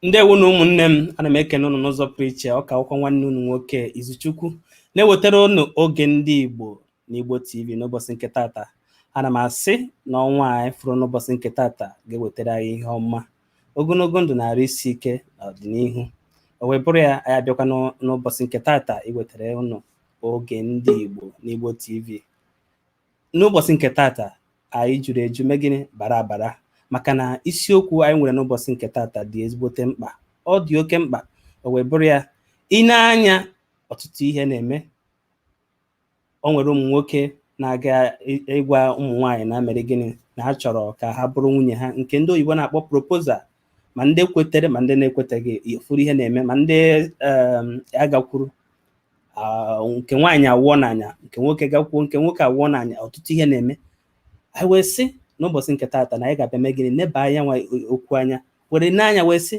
Ndewo nụ ụmụnne m, ana m ekene ụnụ n'ụzọ pụrụ iche, ọ ka wụkwa nwanne ụnụ nwoke Izuchukwu na-ewetara ụnụ oge ndị Igbo na Igbo TV n'ụbọchị nke tata. Ana m asị na ọnwa anyị fụrụ n'ụbọchị nke tata ga-ewetara anyị ihe ọma, ogologo ndụ na arụ isi ike n'ọdịnihu. O wee bụrụ ya anyị abịakwa n'ụbọchị nke tata iwetara ụnụ oge ndị Igbo na Igbo TV. n'ụbọchị nke tata anyị juru eju mee gịnị bara abara maka na isiokwu anyị nwere n'ụbọchị nke tata dị ezigbote mkpa ọ dị oke mkpa o wee bụrụ ya i nee anya ọtụtụ ihe na-eme o nwere ụmụ nwoke na-aga ị- ịgwa ụmụ nwaanyị na mere gịnị na ha chọrọ ka ha bụrụ nwunye ha nke ndị oyibo na-akpọ proposal ma ndị kwetere ma ndị na-ekweteghị ị fụrụ ihe na-eme ma ndị um, agakwuru ah, nke nwaanyị awụọ n'anya nke nwoke gakwuo nke nwoke awụọ n'anya ọtụtụ ihe na-eme anyị wee sị n'ụbọchị nke tata na anyị ga-abịa mee gịnị neba nyanwa okwu anya were nee anya wee sị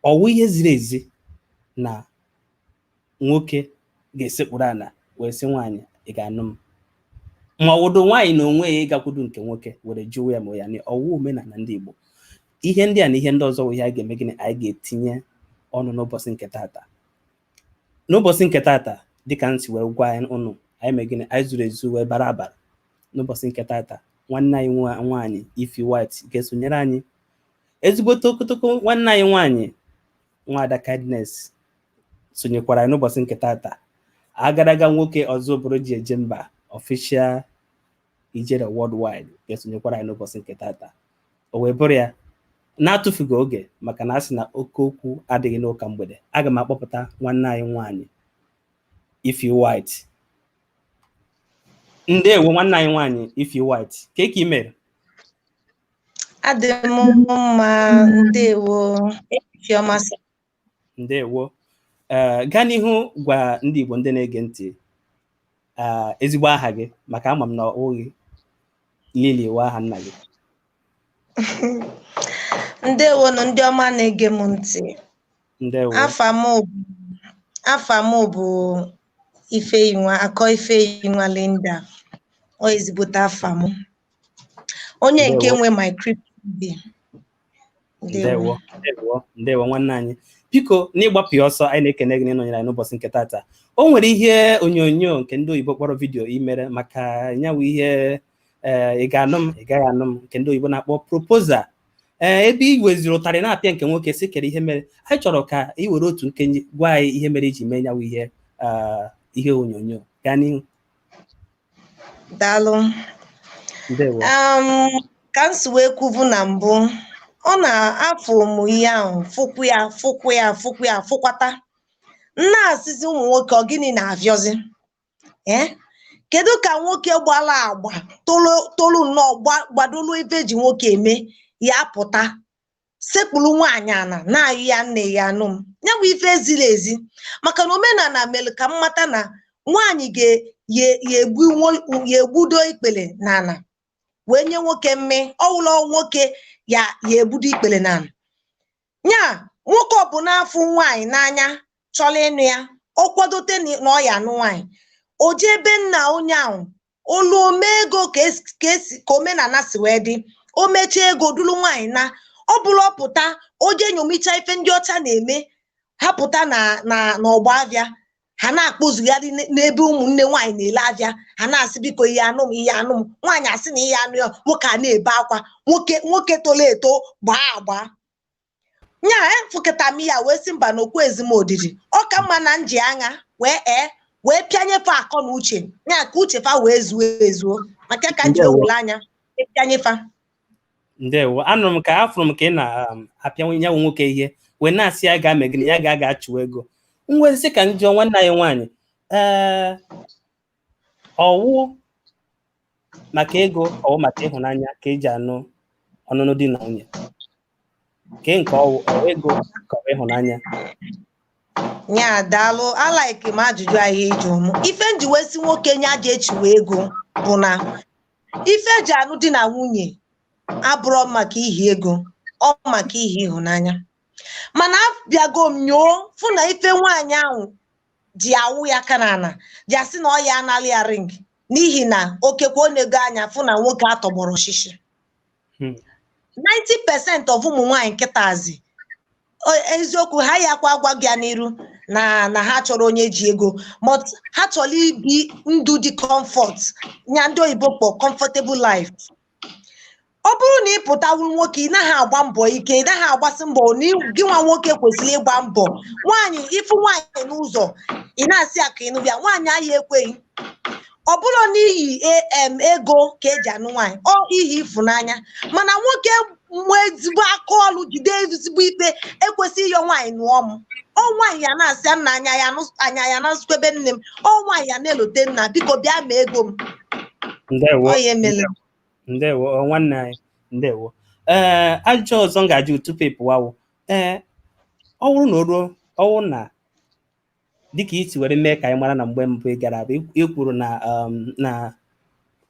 ọ wụ ihe ziri ezi na nwoke ga-esekpuru ala wee sị nwaanyị ị ga-anụ m ma ọ wụdụ nwaanyị n'onwe ya ịgakwudu nke nwoke were jụwa ya ma ya na ọ wụ omenala ndị Igbo ihe ndị a na ihe ndị ọzọ bụ ihe anyị ga-eme gịnị anyị ga-etinye ọnụ n'ụbọchị nke tata n'ụbọchị nke tata dịka m si wee gwa ụnụ anyị mee gịnị anyị zuru ezu wee bara abara n'ụbọchị nke tata nwanne anyị nwa- nwaanyị Ify White ga-esonyere anyị ezigbote okotoko nwanne anyị nwaanyị nwaada Kindness sonyekwara anyị n'ụbọchị nke tata agadaga nwoke ọzọ bụrụ ji eje mba Official Ijele Worldwide ga-esonyekwara anyị n'ụbọchị nke tata o wee bụrụ ya na-atụfughị oge maka na a sị na oke okwu adịghị n'ụka mgbede aga m akpọpụta nwanne anyị nwaanyị Ify White ndewo nwanne anyị nwaanyị Ify White kee ka ị mere adị m mma ndewo ndewo ee gaa n'ihu gwa ndị Igbo ndị na-ege ntị ee ezigbo aha gị maka ama m na ọ bụghị Lily wụ aha nna gị ndewo nụ ndị ọma na-ege m ntị ndewo afa m bụ- afa m bụ Ifeyinwa Akọ Ifeyinwa Linda ọ ezigbote afa m onye nke Ndewo. nwe my crypto bi ndewo ndewo ndewo nwanne anyị biko n'ịgbapụ ya ọsọ anyị na-ekene gị n'ịnọnyere anyị n'ụbọchị nke tata o nwere ihe onyonyo nke ndị oyibo kpọrọ vidiyo i mere maka nyawụ ihe eh, ị ga-anụ m ị gaghị anụ m nke ndị oyibo na-akpọ proposal ee eh, ebe ị weziri ụtarị na-apịa nke nwoke sị kere ihe mere anyị chọrọ ka ị were otu nkenke gwa anyị ihe mere i ji mee nyawụ ihe eh, ihe onyonyo gaa n'ihu daalụ ndewo um, ka m si wee kwubu na mbụ ọ na-afụ ụmụ ihe ahụ fụkwu ya fụkwu ya fụkwu ya fụkwata m na-asịzi ụmụ nwoke ọ gịnị na-afịọzi ee kedu ka nwoke gbala agba tolu tolu nnọọ gba- gbadolu ife eji nwoke eme ya pụta sekpuru nwaanyị ana na-ayọ ya nne ị ya-anụ m ya bụ ife ezirọ ezi maka na omenala mere ka m mata na nwaanyị ga-egbudo ikpere n'ala wee nye nwoke mme ọ wụlọ nwoke ya ya egbudo ikpere n'ala ya nwoke ọ bụna fụ nwaanyị n'anya chọrọ ịnụ ya ọ kwadote na ọ ya anụ nwaanyị o jee ebe nna onye ahụ olu o mee ego ka esi- ka esi- ka omenala si wee dị o mechaa ego duru nwaanyị naa ọ bụrọ ọ pụta o jee nyomicha ife ndị ọcha na-eme ha pụta na na n'ọgbọ avịa ha na-akpụzugharị n- n'ebe ụmụnne nwaanyị na-ele avịa ha na-asị biko ị ya-anụ m ị ya-anụ m nwaanyị asị na ya anụ ya nwoke a na-ebe akwa nwoke nwoke tolo eto gbaa agba nya afụkata m ya wee sị mba na okwu ezim odidi ọ ka mma na m ji aṅa wee ee wee pịanye fa akọ na uche nya ka uche fa wee zuo ezuo maka ka m ji ewelu aṅa pịanye fa ndewo anụrụ m ka afụrụ m ka ị na-apịa ya bụ nwoke ihe wee na-asị ya gaa mee gịnị ya ga- gaa chụwa ego m wee sị ka m jụọ nwanne anyị nwaanyị ee ọ wụ maka ego ọ wụ maka ịhụnanya ka eji anụ ọnụnụ di na nwunye ke nke ọ wụ ọ wụ ego ka ọ wụ ịhụnanya ya daalụ alike m ajụjụ ahụ ị jụ m ife m ji wee sị nwoke nya jee chụwe ego bụ na ife eji anụ di na nwunye abụrọ maka ihi ego ọ maka ihi ịhụnanya mana abịago m nyoo fụ na ife nwaanyị ahụ ji awụ ya aka n'ala ji asị na ọ ya anala ya ring n'ihi na okekwe o nego anya fụ na nwoke atọgbọrọ shishi Hmm. 90% of ụmụ nwaanyị kịtazi o- eziokwu ha ya kwa agwa gị ya n'iru na na ha chọrọ onye ji ego but ha chọrọ ibi ndụ dị comfort nya ndị oyibo kpọ comfortable life ọ bụrụ na ị pụta wụ nwoke ị naghị agba mbọ ike ị naghị agbasi mbọ na ị- gị nwa nwoke kwesịrị ịgba mbọ nwaanyị ị fụ nwaanyị n'ụzọ ị na-asị ya ka ị nụba ya nwaanyị ahụ ekweghị ọ bụrọ n'ihi em ego ka eji anụ nwaanyị ọ ihi ịfụnanya mana nwoke nwee ezigbo aka ọlụ jide ezigbo ikpe ekwesịghị ịyọ nwaanyị nụọ m ọ nwaanyị ya na-asị ya nna anya ya nụ- anya ya na nsukwa ebe nne m ọ nwaanyị ya na-elote nna biko bịa mee ego m ndewo ọ ya emela ndewo ọ, nwanne anyị ndewo ee ajụjụ ọzọ m ga-ajụ tupu ị pụwa wụ ee ọ bụrụ na o ruo ọ bụrụ na dịka i si were mee ka anyị mara na mgbe mbụ ị gara abụ ị kwuru na um, na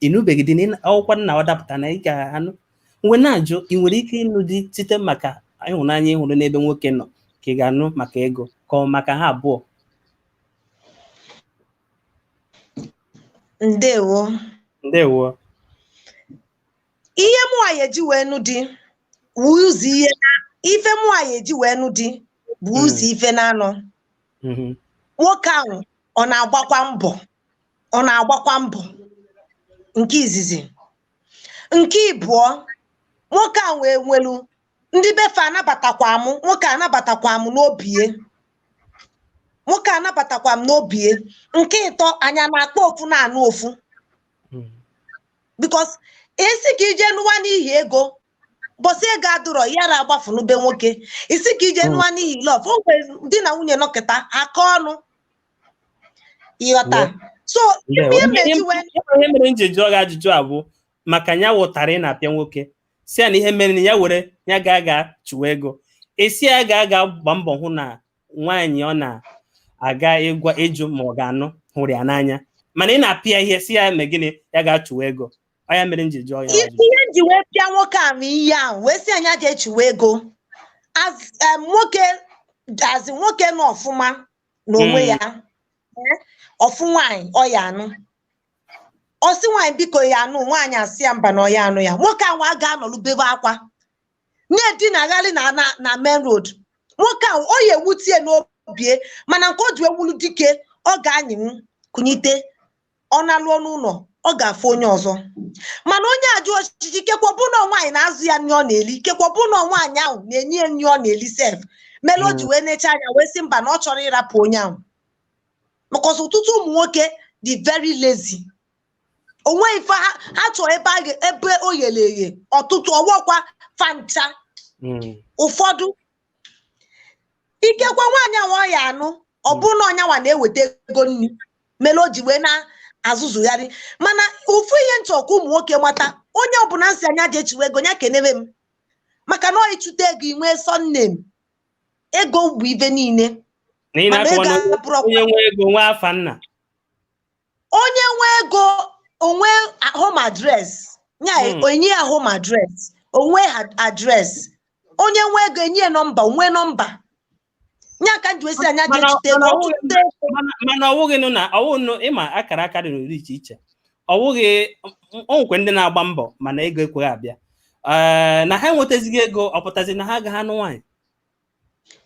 ị nụbeghị di n'akwụkwọ mana ọ dapụta na ị ga-anụ m wee na-ajụ ị nwere ike ịnụ di site maka ịhụnanya ị hụrụ n'ebe nwoke nọ ka ị ga-anụ maka ego ka ọ maka ha abụọ ndewo ndewo ihe mụwa ya eji wee nụ di bụ ụzọ ihe na- ife mụwa ya eji wee nụ di bụ ụzọ ife na-anọ Mhm. nwoke ahụ ọ na-agbakwa mbọ nke izizi nke ịbụọ nwoke ahụ wee nwelu ndị be fe anabatakwa m nwoke anabatakwa m n'obie nwoke anabatakwa m n'obie nke ịtọ anyị ya na-akpọ ofu na-anụ ofu Mhm. because ị sị ka i je nụwa n'ihi ego bọsị ego adụrọ ya ra agbafu na be nwoke ị sị ka i je nụwa n'ihi love o nwere di na nwunye nọkịta aka ọnụ ịghọta so ife ihe m ji wee ihe mere m ji jụọ gị ajụjụ a bụ maka ya wụtara ị na-apịa nwoke sị ya na ihe mere na ya were ya gaa ga chụwa ego ị sị ya gaa ga gba mbọ hụ na nwaanyị ọ na-aga ịgwa ịjụ ma ọ ga-anụ hụrụ ya n'anya mana ị na-apịa ihe sị ya mee gịnị ya gaa chụwa ego ọ ya mere m ji jụọ ya ihe ajụjụ. ihe m ji wee pịa nwoke ahụ ihe ahụ wee sị ya nya jee chụwe ego As, em, nwoke that is nwoke nọ ọfụma n'onwe Mm. ya Eh, ọ fụ nwaanyị ọ ya anụ ọ sị nwaanyị biko ya anụ nwaanyị asị ya mba na ọ ya anụ ya nwoke ahụ agaa nọlụ bebe akwa na-edinagharị na na na main road nwoke ahụ ọ ya ewutie n'obie mana nke o ji wee wụlụ dike ọ ga-anyịnwu kunite ọ nalụọ n'ụlọ ọ ga-afụ onye ọzọ mana onye ajụ ọchịchị ikekwa ọ bụ na nwaanyị na-azụ ya nri ọ na-eli ikekwa ọ bụ na nwaanyị ahụ na-enye ya nri ọ na-eli sef mere o ji wee nechaa anya wee sị mba na ọ chọrọ ịrapụ onye ahụ because ọtụtụ ụmụ nwoke dị very lazy o nwe ife ha ha chọọ ebe a ga- ebe o ghere oghe ọtụtụ ọ wọkwa fa ncha Mm. ụfọdụ ikekwa nwaanyị ahụ ọ ya anụ ọ bụrụ na ọ nyanwa na-eweta ego nri mere o ji wee na-azụzugharị mana ofu ihe m chọ ka ụmụ nwoke mata onye ọbụla m sị nya jee chụwe ego ya kenebe m maka na ọ ị chụta ego i nwee sọnne m ego bụ ife niile na ị mana na-akọwa ego na abụrụ ọkwa onye nwe ego nwe afa nna onye nwe ego o nwee home address nya Hmm. enye ya home address o nwee address onye nwe ego enye ya nọmba o nwee nọmba nya ka m ji wesi anya Mana- ga-echute mana ọ bụghị- n'ọtụtụ mana mana ọwụghị nụ na ọwụghị nụ ịma akara aka dị n'ụdị iche iche ọwụghị o nwekwe ndị na-agba mbọ mana ego ekweghị abịa Ee, na ha enwetazighị ego ọ pụtazi na ha agaghị anụ nwaanyị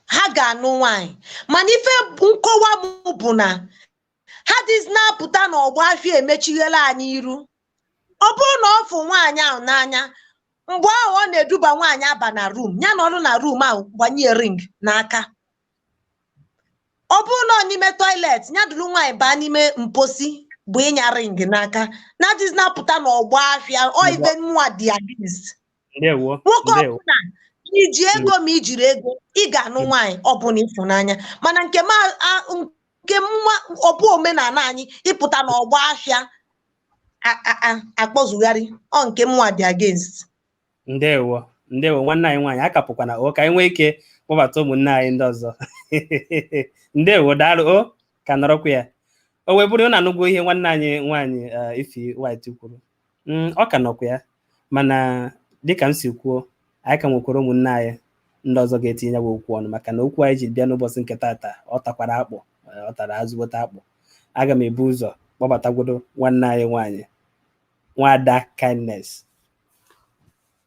ha ga-anụ nwaanyị mana ife nkọwa m bụ na all this na-apụta n'ọgbọ afịa emechighela anyị iru ọ bụrụ na ọ fụ nwaanyị ahụ n'anya mgbe ahụ ọ na-eduba nwaanyị aba na room ya nọrọ na room ahụ gbanye ring n'aka ọ bụrụ na ọ n'ime toilet ya duru nwaanyị baa n'ime mposi bunye ya ring n'aka na this na-apụta n'ọgbọ afịa ọ ife mụnwa dị against ndewo nwoke ndewo ọbụla i ji ego ma i jirọ ego ị ga-anụ nwaanyị ọbụla ị fụ n'anya mana nke m a- a- nke m ma ọ bụ omenala anyị ịpụta n'ọgbọ ahịa a- a- a- akpọzugharị ọ nke mụnwa dị against ndewo ndewo nwanne anyị nwaanyị akapụkwana o ka anyị nwee ike kpọbata ụmụnne anyị ndị ọzọ ndewo daalụ o ka nọrọkwa ya o wee bụrụ na anụgwo ihe nwanne anyị nwaanyị eh, ify white kwuru Mm, ọ ka nọkwa ya mana dịka m si kwuo anyị ka nwekwara ụmụnne anyị ndị ọzọ ga-etinye ya bụ okwu ọnụ maka na okwu anyị ji bịa n'ụbọchị nke taata ọ takwara akpụ eh, ọ tara azụgbota akpụ aga m ebu ụzọ kpọbatagwodo nwanne anyị nwaanyị nwada kindness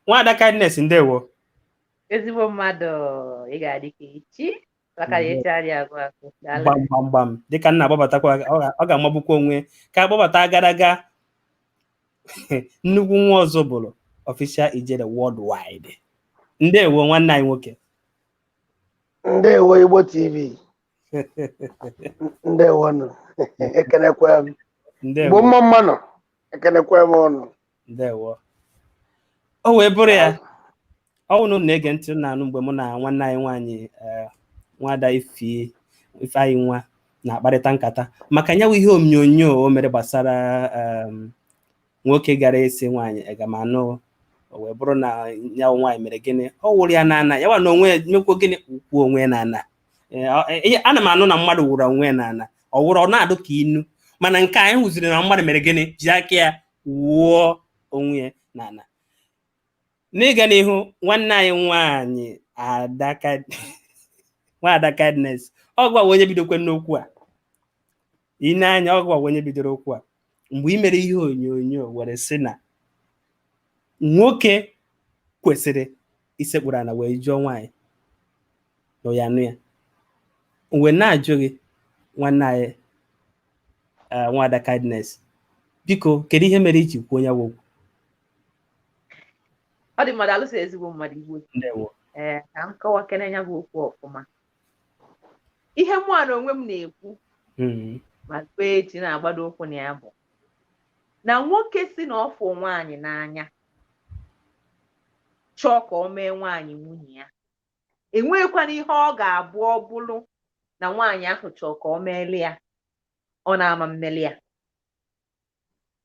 nwada kindness ndewo ezigbo mmadụ ị ga-adị ka echi maka na echi adịghị agwụ agwụ daalụ gbam gbam gbam dịka m na-akpọbatakwa ọ ga- ọ ga-amagbukwa onwe ka a kpọbata agadaga nnukwu nwa ọzọ bụrụ official ijele worldwide ndewo nwanne anyị nwoke ndewo igbo tv ndewo nụ ekenekwe m igbo ndewo mma mma nụ ekenekwe m unu ndewo o wee bụrụ ya ọ bụrụ na unu na-ege ntị na-anụ mgbe mụ na nwanne anyị nwaanyị eh, nwada ify nwa na-akparịta nkata maka nya wụ ihe onyonyo o mere gbasara em, nwoke gara esi nwaanyị aga m anụ o wee bụrụ na nya wụ nwaanyị mere gịnị ọ wụrụ ya n'ana ya wa na onwe ya mekwuo gịnị wụọ onwe ya n'ana Eh, ọ- eh, ihe- ana m anụ na mmadụ wụrụ onwe ya n'ana ọ wụrụ ọ na-adụ ka inu mana nke a anyị hụziri na mmadụ mere gịnị ji aka ya wụọ onwe ya n'ana n'ịga n'ihu nwanne anyị nwaanyị adaka nwaada kindness ọ gịwa wụ onye bidokwenụ okwu a ị nee anya ọ gịwa wụ onye bidoro okwu a mgbe ị mere ihe onyonyo were sị na nwoke kwesịrị isekpuru ala wee jụọ nwaanyị na ya anụ ya mgbe na-ajụ gị nwanne anyị eh, nwada kindness biko kedu ihe mere i ji kwuo ya bụ okwu ọ dị mmadụ alụsị ezigbo mmadụ igbo ee eh, ka m kọwa kene ya bụ okwu ọfụma ihe mụ na onwe m na-ekwu hmm. ma kpee echi na-agbado ụkwụ na ya bụ na nwoke sị na ọ fụ nwaanyị n'anya chọọ ka o mee nwaanyị nwunye ya enweghịkwana ihe ọ ga-abụ ọ bụrụ na nwaanyị ahụ chọọ ka o meelu ya ọ na-ama mmeli ya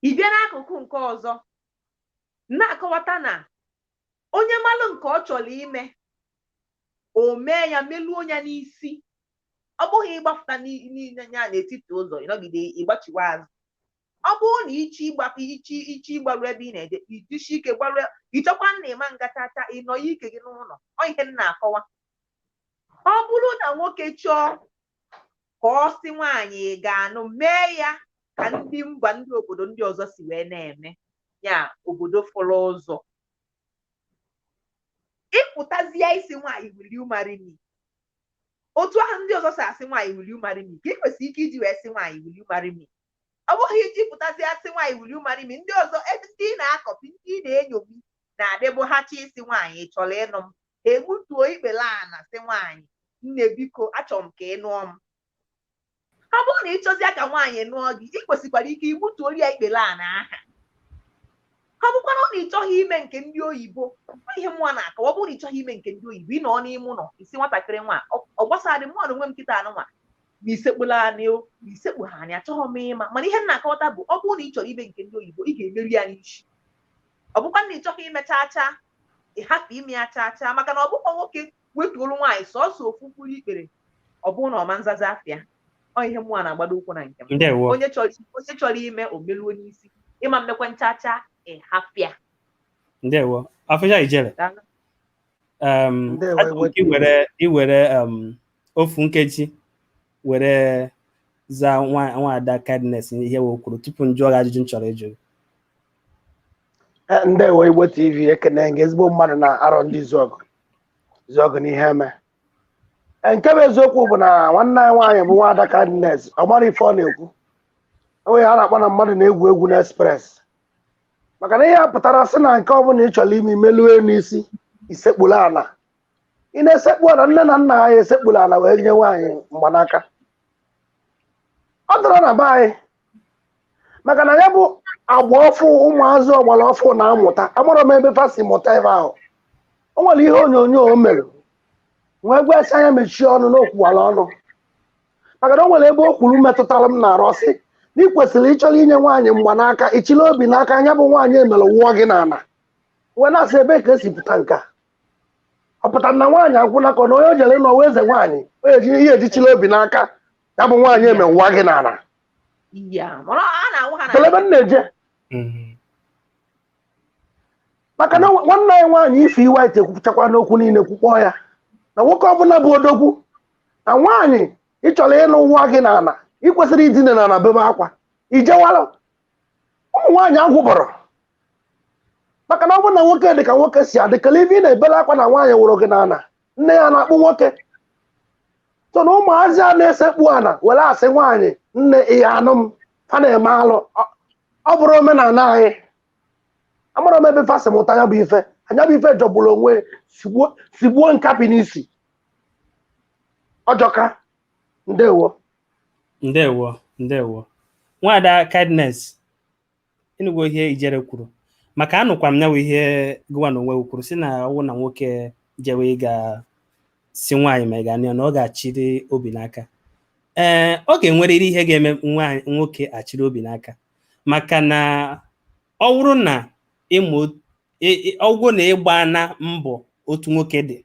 ị bịa n'akụkụ nke ọzọ na-akọwata na onye malụ nke ọ chọrọ ime o mee ya meluo ya n'isi ọ bụghị ị gbafụta ya n'etiti ụzọ ị nọgide ị gbachiwa azụ ọ bụrụ na ị chọ ịgba ị chọ ị chọ ịgbaru ebe ị na-eje i jisie ike gbaru ị chọkwa na ị ma nga chaa chaa ị nọ ya ike gị n'ụlọ ọ ihe m na-akọwa ọ bụrụ na nwoke chọọ ka ọ sị nwaanyị ị ga-anụ mee ya ka ndị mba ndị obodo ndị ọzọ si wee na-eme ya obodo fọrọ ụzọ ị pụtazie ị sị nwaanyị will you marry me otu ahụ ndị ọzọ si asị nwaanyị will you marry me ka ị kwesịrị ike iji wee sị nwaanyị will you marry me ọ bụghị i ji pụtazie sị nwaanyị will you marry me ndị ọzọ ebe ndị ị na-akọpi ndị ị na-enyomi na-adịbụ ha chọ ịsị nwaanyị ị chọrọ ịnụ m egbutuo ikpele ana sị nwaanyị nne biko achọrọ m ka ị nụọ m ọ bụrụ na ị chọzie ka nwaanyị nụọ gị ị kwesịkwara ike igbutuo ya ikpele ana aha ọ bụkwara na ị chọghị ime nke ndị oyibo ihe mụa na-akọwa ọ bụrụ na ị chọghị ime nke ndị oyibo ị nọ n'ime ụlọ ị sị nwatakịrị nwa ọ gbasadị mụ na onwe m kịta nụnwa ma i sekpulu ana o ma i sekpuhọ ana achọghị m ịma mana ihe m na-akọwata bụ ọ bụrụ na ị chọrọ ime nke ndị oyibo ị ga-emeru ya n'isi ọ bụkwa na ị chọghị ime chaa chaa ị hapụ ime ya chaa chaa maka na ọ bụkwa nwoke wetuolu nwaanyị sọsọ ofu mkpụrụ ikpere ọ bụrụ na ọ ma nzaza afịa ọ ihe mụa na-agbado ụkwụ na nke m ndewo onye chọrọ onye chọrọ ime o meluo n'isi ị ma mmekwa chaa chaa ị hapụ ya ndewo official ijele Daalụ. um, Ndewo, achọrọ m ka i were i were um, ofu nkeji were zaa nwaada kindness ihe o kwuru tupu m jụọ gị ajụjụ m chọrọ ịjụ eh, ndewo igbo tv ekene m gị ezigbo mmadụ na arọndizuọgụ izuọgụ na iheme eh, nke bụ eziokwu bụ na nwanne anyị nwaanyị bụ nwaada kindness ọ mara ife ọ na-ekwu o nwe ihe a na-akpọ na mmadụ na-egwu egwu na express maka na ihe a pụtara sị na nke ọ bụla ị chọrọ ime i meluo n'isi isekpuru ala ị na-esekpu ala nne na nna anyị esekpuru ala wee nye nwaanyị mgbanaka ọ dịrọ na be anyị maka na ya bụ agba ọfụ ụmụazị ọgbara ọfụ na-amụta amarọ m ebe fa si mụta ebe ahụ o nwere ihe onyonyo o mere wee gwa sị nya mechie ọnụ na o kwuwara ọnụ maka na o nwere ebe o kwuru metụtara m n'arụ ọ sị na ị kwesịrị ị chọrọ inye nwaanyị mgbanaka ị chịlị obi n'aka nya bụ nwaanyị emere wụọ gị n'ala wee na-asị ebe ka esi pụta nke a ọ pụtara na nwaanyị agwụla ka ọ na onye o jere na ọ wụ eze nwaanyị o eji ihe e ji chịla obi n'aka ya bụ nwaanyị emee wụọ gị n'ala ya mana a na-awụ ha na kele ebe m na-eje Mm. maka na nwa- nwanne anyị nwaanyị Ify White ekwuchakwa n'okwu niile kwukpọọ ya na nwoke ọbụla bụ odogwu na nwaanyị ị chọrọ ịnụ wụọ gị n'ala ị kwesịrị idina n'ala bebe akwa ijewalụ ụmụ nwaanyị agwụbọrọ maka na ọ bụrụ na nwoke dị ka nwoke si adị kele ife ị na-ebele akwa na nwaanyị wụrụ gị n'ala nne ya na-akpụ nwoke so na ụmụazị a na-esekpu ana were asị nwaanyị nne ị ya-anụ m fa na-eme alụ Ọ- ọ bụrọ omenala anyị amarọ m ebe fa si mụta ya bụ ife nya bụ ife jọgburu onwe ya, sigbuo nkapị n'isi ọ jọka ndewo ndewo ndewo nwada kindness ị nụgo ihe Ijele kwuru maka anụkwa m nyawa ihe gụwa na onwe kwuru sị na ọ wụrụ na nwoke jewe ịga sị nwaanyị ma ị ga-anụ m ọ ga-achịrị obi n'aka ee ọ ga-enwerịrị ihe ga-eme nwoke achịrị obi n'aka maka na ọ wụrụ na ọ wụ na ị gbaana mbọ otu nwoke dị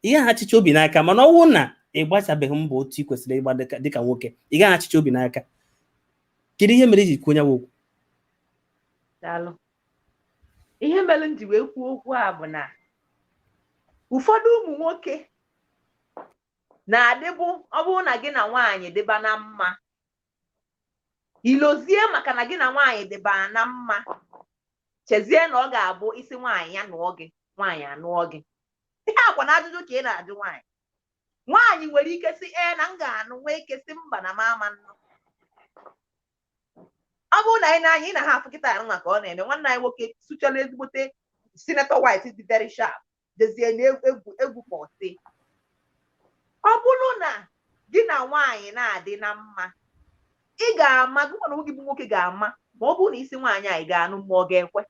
ị gaghị achịcha obi n'aka mana ọ bụrụ na ị gbachabeghị mbọ otu ị kwesịrị ịgba dịka nwoke ị gaghị achịcha obi n'aka kedu ihe mere i ji kwuo nyawa okwu daalụ ihe mere m ji wee kwuo okwu a bụ na ụfọdụ ụmụ nwoke na-adịbụ ọ bụrụ na gị na nwaanyị dịba na mma i lozie maka na gị na nwaanyị dịba na mma chezie na ọ ga-abụ ị sị nwaanyị ya nụọ gị nwaanyị anụọ gị ihe akwa na ajụjụ ka ị na-ajụ nwaanyị nwaanyị nwere ike sị ee na m ga-anụ nwee ike sị mba na m ama anụ ọ bụrụ na ị nee anya ị na ha afụ kịta arụ maka ọ na-eme nwanne anyị nwoke sụchala ezigbote senator white dị very sharp dezie na egwu pọtị ọ bụrụ na gị na nwaanyị na-adị na mma ị ga-ama gụwa n'onwe gị bụ nwoke ga-ama ma ọ bụrụ na ị sị nwaanyị anyị ga-anụ ma ọ ga-ekwe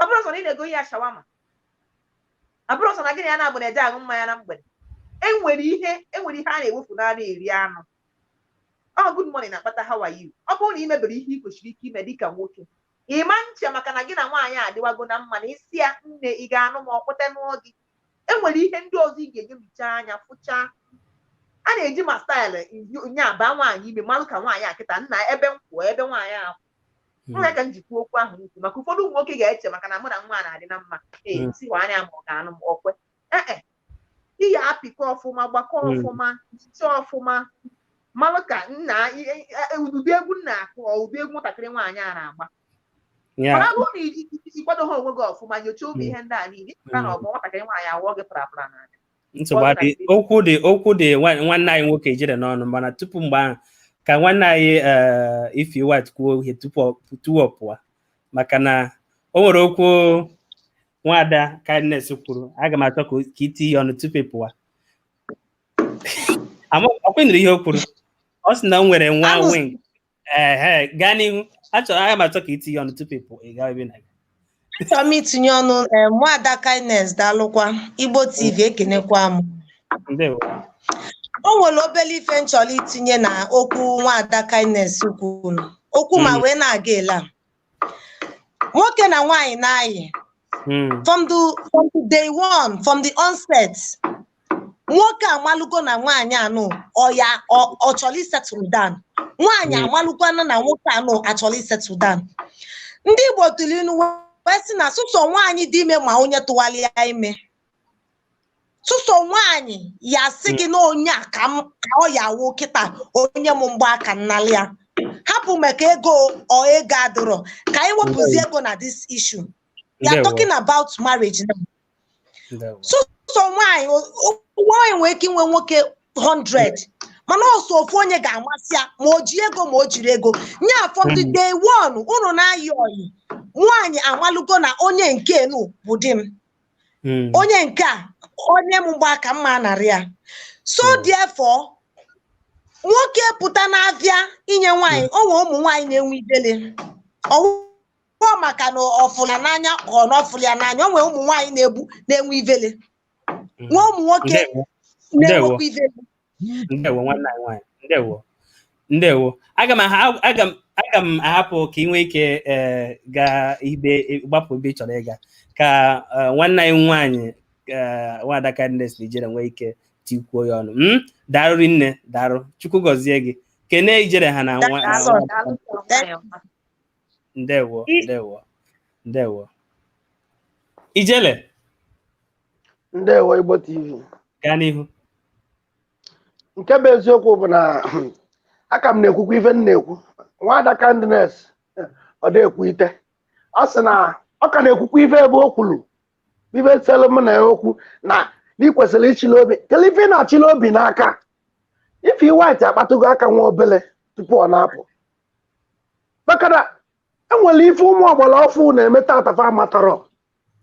ọ bụrọ sọ na ị na-ego ya shawarma ọ bụrọ sọ na gị na ya na-abụ na-eje aṅụ mmanya na mgbede enwere ihe enwere ihe a na-ewefu n'anụ eri anụ ọ good morning na-akpata how are you ọ bụrụ na ị mebere ihe ị kwesịrị ike ime dịka nwoke ị ma eche maka na gị na nwaanyị adịwago na mma na ị sị ya nne ị ga-anụ m ọ kweta nụọ gị enwere ihe ndị ọzọ ị ga-enelucha anya fụchaa a na-eji ma staịlụ nya baa nwaanyị ime malụ ka nwaanyị a kịta nna ebe m kwụ ebe nwaanyị a kwụ Hmm. nya ka m ji kwuo okwu ahụ m kwuru maka ụfọdụ ụmụ nwoke ga-eche maka na mụ na nwa a na-adị na mma ee Mm. m sị nwaanyị ma ọ ga-anụ m ọ kwe ee e ị ya apịkọ ọfụma gbakọ Mm. ọfụma checha ọfụma malụ ka nna i- i- e- ụdị egwu m na-akụ ọ ụdị egwu nwatakịrị nwaanyị a na-agba Yeah. mana bụrụ na iji iji kwado ha onwe gị ọfụma nyochaa ụmụ Mm. ihe ndị a niile ị pụta na Mm. ọgbọ nwatakịrị nwaanyị awụọ gị parapara n'anya nsogbu adị okwu dị okwu dị nwanne anyị nwoke Ijele n'ọnụ mana tupu mgbe ahụ ka nwanne anyị eh, Ify White kwuo ihe tupu ọ pụọ maka na o nwere okwu nwada kindness kwuru aga m achọ ka i tinye ọnụ tupu ị pụa ọ kwenyere ihe o kwuru ọ sị na o nwere nwa wing ee gaa n'ihu achọrọ aga m achọ ka i tinye ọnụ tupu ị pụọ ị gawa ebe na achọrọ m itinye ọnụ ee nwada kindness daalụkwa igbo tv ekenekwa m ndewo o nwere obere ife m chọrọ itinye na okwu nwada kindness kwuru okwu m a Mm. wee na-aga ele a nwoke na nwaanyị na-ayị hmm. from the from the day one from the onset nwoke amalụgo na nwaanyị anụ ọ ya ọ chọrọ isettle down nwaanyị hmm. amalụkwana na nwoke anụ achọrọ isettle down ndị Igbo tụrụ inu wee sị na sọsọ nwaanyị dị ime ma onye tụwalị ya ime sọsọ nwaanyị ya sị gị na onye a ka m ka ọ ya-awụ kịta o nye m mgba aka m nalị ya hapụ maka ego ọ ego adịrọ ka anyị wepụzi ego na this issue we are Ndewo. talking about marriage now Ndewo. sọsọ nwaanyị o- o- nwaanyị nwere ike inwe nwoke 100 mana ọ sọ ofu onye ga-amasị ya ma o ji ego ma o jirọ ego nya from the Mm. day one unu na-ayị ọyị nwaanyị amalụgo na onye nke nu bụ di m Mm. onye nke a o nye m mgba aka m ma anarị ya so Mm. therefore nwoke pụta na-abịa inye nwaanyị o nwee ụmụ nwaanyị na-enwe ivele ọ wụ maka na ọ fụlụ ya n'anya ka ọ na ọ fụlụ ya n'anya o nwee ụmụ nwaanyị na-egbu na-enwe ivele Mm. nwee ụmụ nwoke Ndewo. na-enwekwa ivele ndewo nwanne anyị nwaanyị ndewo ndewo aga m aha- aga m aga m ahapụ ka ị nwee ike eh, gaa ibe gbapụ ebe ị chọrọ ịga ka eh, nwanne anyị nwaanyị eh, nwaada Kindness na Ijele nwee ike tikwuo ya ọnụ Mm, daalụ rinne daalụ chukwu gọzie gị kene Ijele ha na nwa na nwa- ndewo ndewo ndewo ijele ndewo igbo tv gaa n'ihu nke bụ eziokwu bụ na a ka m na-ekwukwa ife m na-ekwu nwada kindness ọ na-ekwuite ọ sị na ọ ka na-ekwukwa ife ebe o kwuru ife selu m na ya okwu na ị kwesịrị ịchịla obi kelee ife ị na-achịla obi n'aka Ify White akpatụgo aka nwa obele tupu ọ na-apụ maka na enwere ife ụmụ ọgbara ọfụ na-eme tata fa amatarọ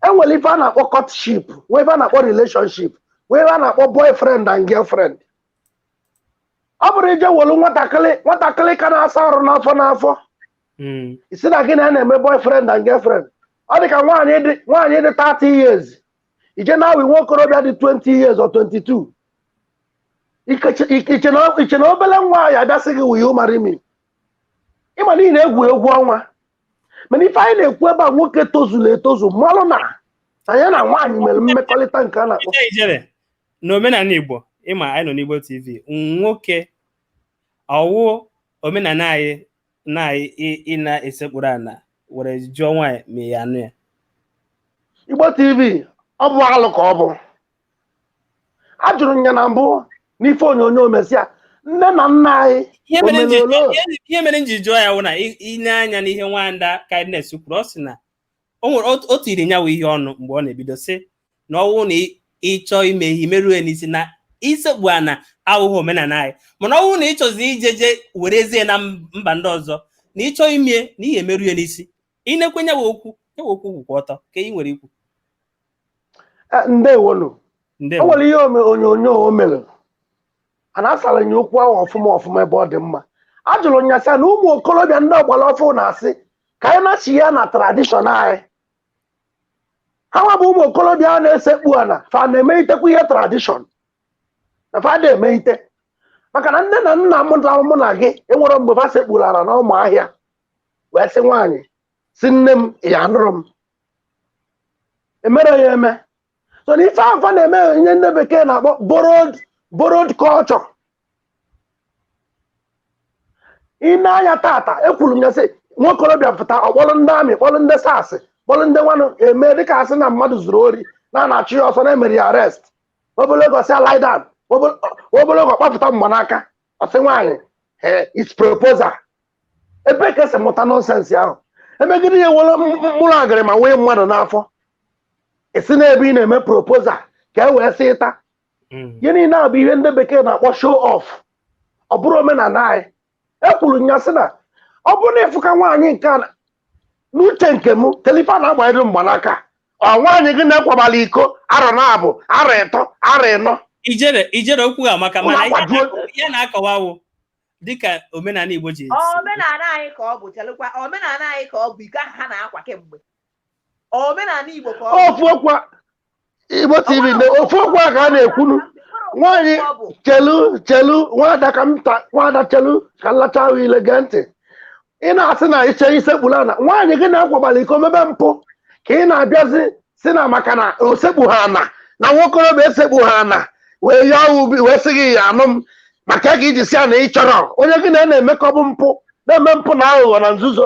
e nwere ife a na-akpọ courtship nwee ife a na-akpọ relationship nwee ife a na-akpọ boyfriend and girlfriend ọ bụrụ i jee welu nwatakịrị nwatakịrị ka na-asa arụ n'afọ n'afọ Mm. ị sị na gị na ya na-eme boyfriend and girlfriend ọ dị ka nwaanyị dị nwaanyị dị 30 years ije na-ayi nwa okorobịa dị 20 years or 22 Ikeche- ike- iche na iche na obele nwa ya-abịa sị gị will you marry me ị ma n'ihi na egwuregwu ọnwa mana ife anyị na-ekwu ebe a nwoke tozuru etozu malụ na ya na nwaanyị mere mmekọrịta nke a na-akpọ Ije Ijele n'omenala Igbo ị ma anyị nọ n'Igbo TV nwoke ọ wụ omenala anyị na anyị ị- ị na-esekpuru ana were jụọ nwaanyị ma ya-anụ ya Igbo TV ọ bụ alụ ka ọ bụ a jụrụ nya na mbụ n'ife onyonyo mesịa nne na nna anyị ihe mere m ji jụọ- omenala ihe- ihe mere m ji jụọ ya wụ na i- i nee anya n'ihe nwada kindness kwuru ọ sị na o nwere otu- o tiri nya wụ ihe ọnụ mgbe ọ na-ebido sị na ọ wụ na ị- ị chọọ ime ihe merue n'isi na isekpu ana awụghị omenala anyị mana ọ wụ na ị chọzie ije je werezie na m- mba ndị ọzọ na ị chọọ ime na ihe emerue n'isi i nekwa nya wụ okwu nya wụ okwu kwụkwa ọtọ ka ị nwere ikwu Eh, ndewonu o ndewo o nwere ihe ome- onyonyo o mere a na-asara nya okwu ahụ ọfụma ọfụma ebe ọ dị mma a jụrụ nya sị na ụmụ okorobịa ndị ọgbara ọfụ na-asị ka anyị na-achị ya na tradishọn anyị ha nwa bụ ụmụ okorobịa a na-esekpu ana fa na-emeitekwa ihe tradishọn na fa da emeite maka na nne na nna m na mụ na gị enwere mgbe fa sekpuru ala n'ọma ahịa wee sị nwaanyị sị nne m ya-anụrụ m emere ya eme so na ife ahụ fa na-eme ihe ndị bekee na-akpọ borrowed borrowed culture i nee anya tata ekwuru m ya sị nwokorobịa pụta ọ kpọrọ ndị army kpọrọ ndị SARS kpọrọ ndị nwanụ eme dịka a sị na mmadụ zuru ori na a na-achụ ya ọsọ na e mere ya arrest ọ bụrụgo sị ya lie down ọ bụrụgo ọ kpapụta mgbanaka ọ sị nwaanyị ee is proposal ebee ka e si mụta nonsense ahụ e megide ya e were m- m- mkpụrụ agịrị manye mmadụ n'afọ ị sị na ebe ị na-eme proposal ka e wee sị ịta Mm. ihe niile a bụ ihe ndị bekee na-akpọ show off ọ bụrọ omenala anyị ekwuru m ya sị na ọ bụrụ na ị fụ ka nwaanyị nke a na- n'uche nke m kedụ ife a na-agbanyere mgbanaka ọ nwaanyị gị na ya kwabala iko arọ naabọ arọ ịtọ arọ ịnọ ijere ijere okwu gị amaka mana ihe a na-akọwa wụ dịka omenala Igbo ji esi. omenala anyị ka ọ bụ chelụkwa omenala anyị ka ọ bụ iko ahụ ha na-akwa kemgbe omenala igbo ka ọ bụ ofu okwu a- Igbo TV na ofu okwu a ka a na-ekwunu nwaanyị chelu chelu nwada ka m ta nwada chelu ka m lacha ahụ ile gee ntị ị na-asị na iche isekpuru ana nwaanyị gị na ya kwabara iko mebe mpụ ka ị na-abịazi sị na maka na o sekpuhọ ana na nwokorobịa esekpuhọ ana wee ya ubi wee sị gị ị ya-anụ m maka ka i ji sị ya na ị chọrọ onye gị na ya na-emekọbụ mpụ na-eme mpụ na aghụghọ na nzuzo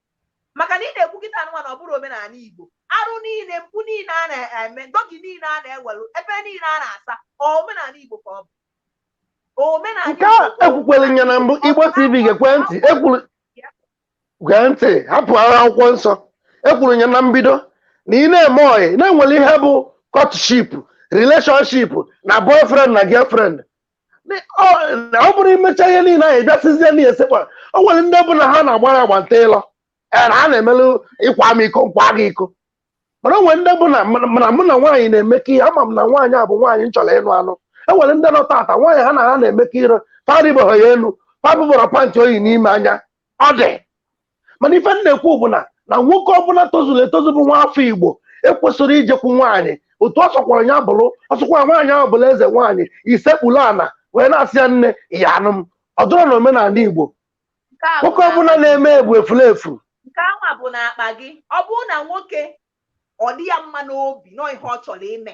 maka na ị na-ekwu kịtaa nụnwa na ọ bụrọ omenala Igbo arụ niile mpụ niile a na-eme doggy niile a na-ewelu ebe niile a na-asa omenala Igbo ka ọ bụ omenala nke a ekwukwara m ya na mbụ Igbo TV geekwe ntị ekwuru gee ntị hapụ agha akwụkwọ nsọ ekwuru m ya na mbido na ị na-eme ọyị na e nwere ihe bụ courtship relationship na boyfriend na girlfriend na ọ bụrọ i mecha ihe niile ahụ ị bịa sịzie na esekwa o nwere ndị bụ na ha na-agbara agba nta ịlọ ee na ha na-emelụ ị kwaa m iko m kwaa gị iko mana o nwere ndị bụ na mana mụ na nwaanyị na-emekọ ihe ama m na nwaanyị a bụ nwaanyị m chọrọ ịnụ anụ e nwere ndị nọ tata nwaanyị ha na ha na-emekọ ihe parịbeghị ya elu fa afụberọ pant o yi n'ime anya ọ dị mana ife m na-ekwu bụ na na nwoke ọbụla tozuru etozu bụ nwa afọ igbo ekwesịrọ ijekwu nwaanyị otu ọ sọkwara ya bụrụ ọ sọkwara nwaanyị ahụ bụrụ eze nwaanyị isekpuru ana wee na-asị ya nne ị ya-anụ m ọ dụrọ na omenala igbo Nke a bụ nwoke na- ọbụla na-eme ya bụ efulefu nke anwa bụ n'akpa gị ọ bụrụ na nwoke ọ dị ya mma n'obi na ọ ihe ọ chọrọ ime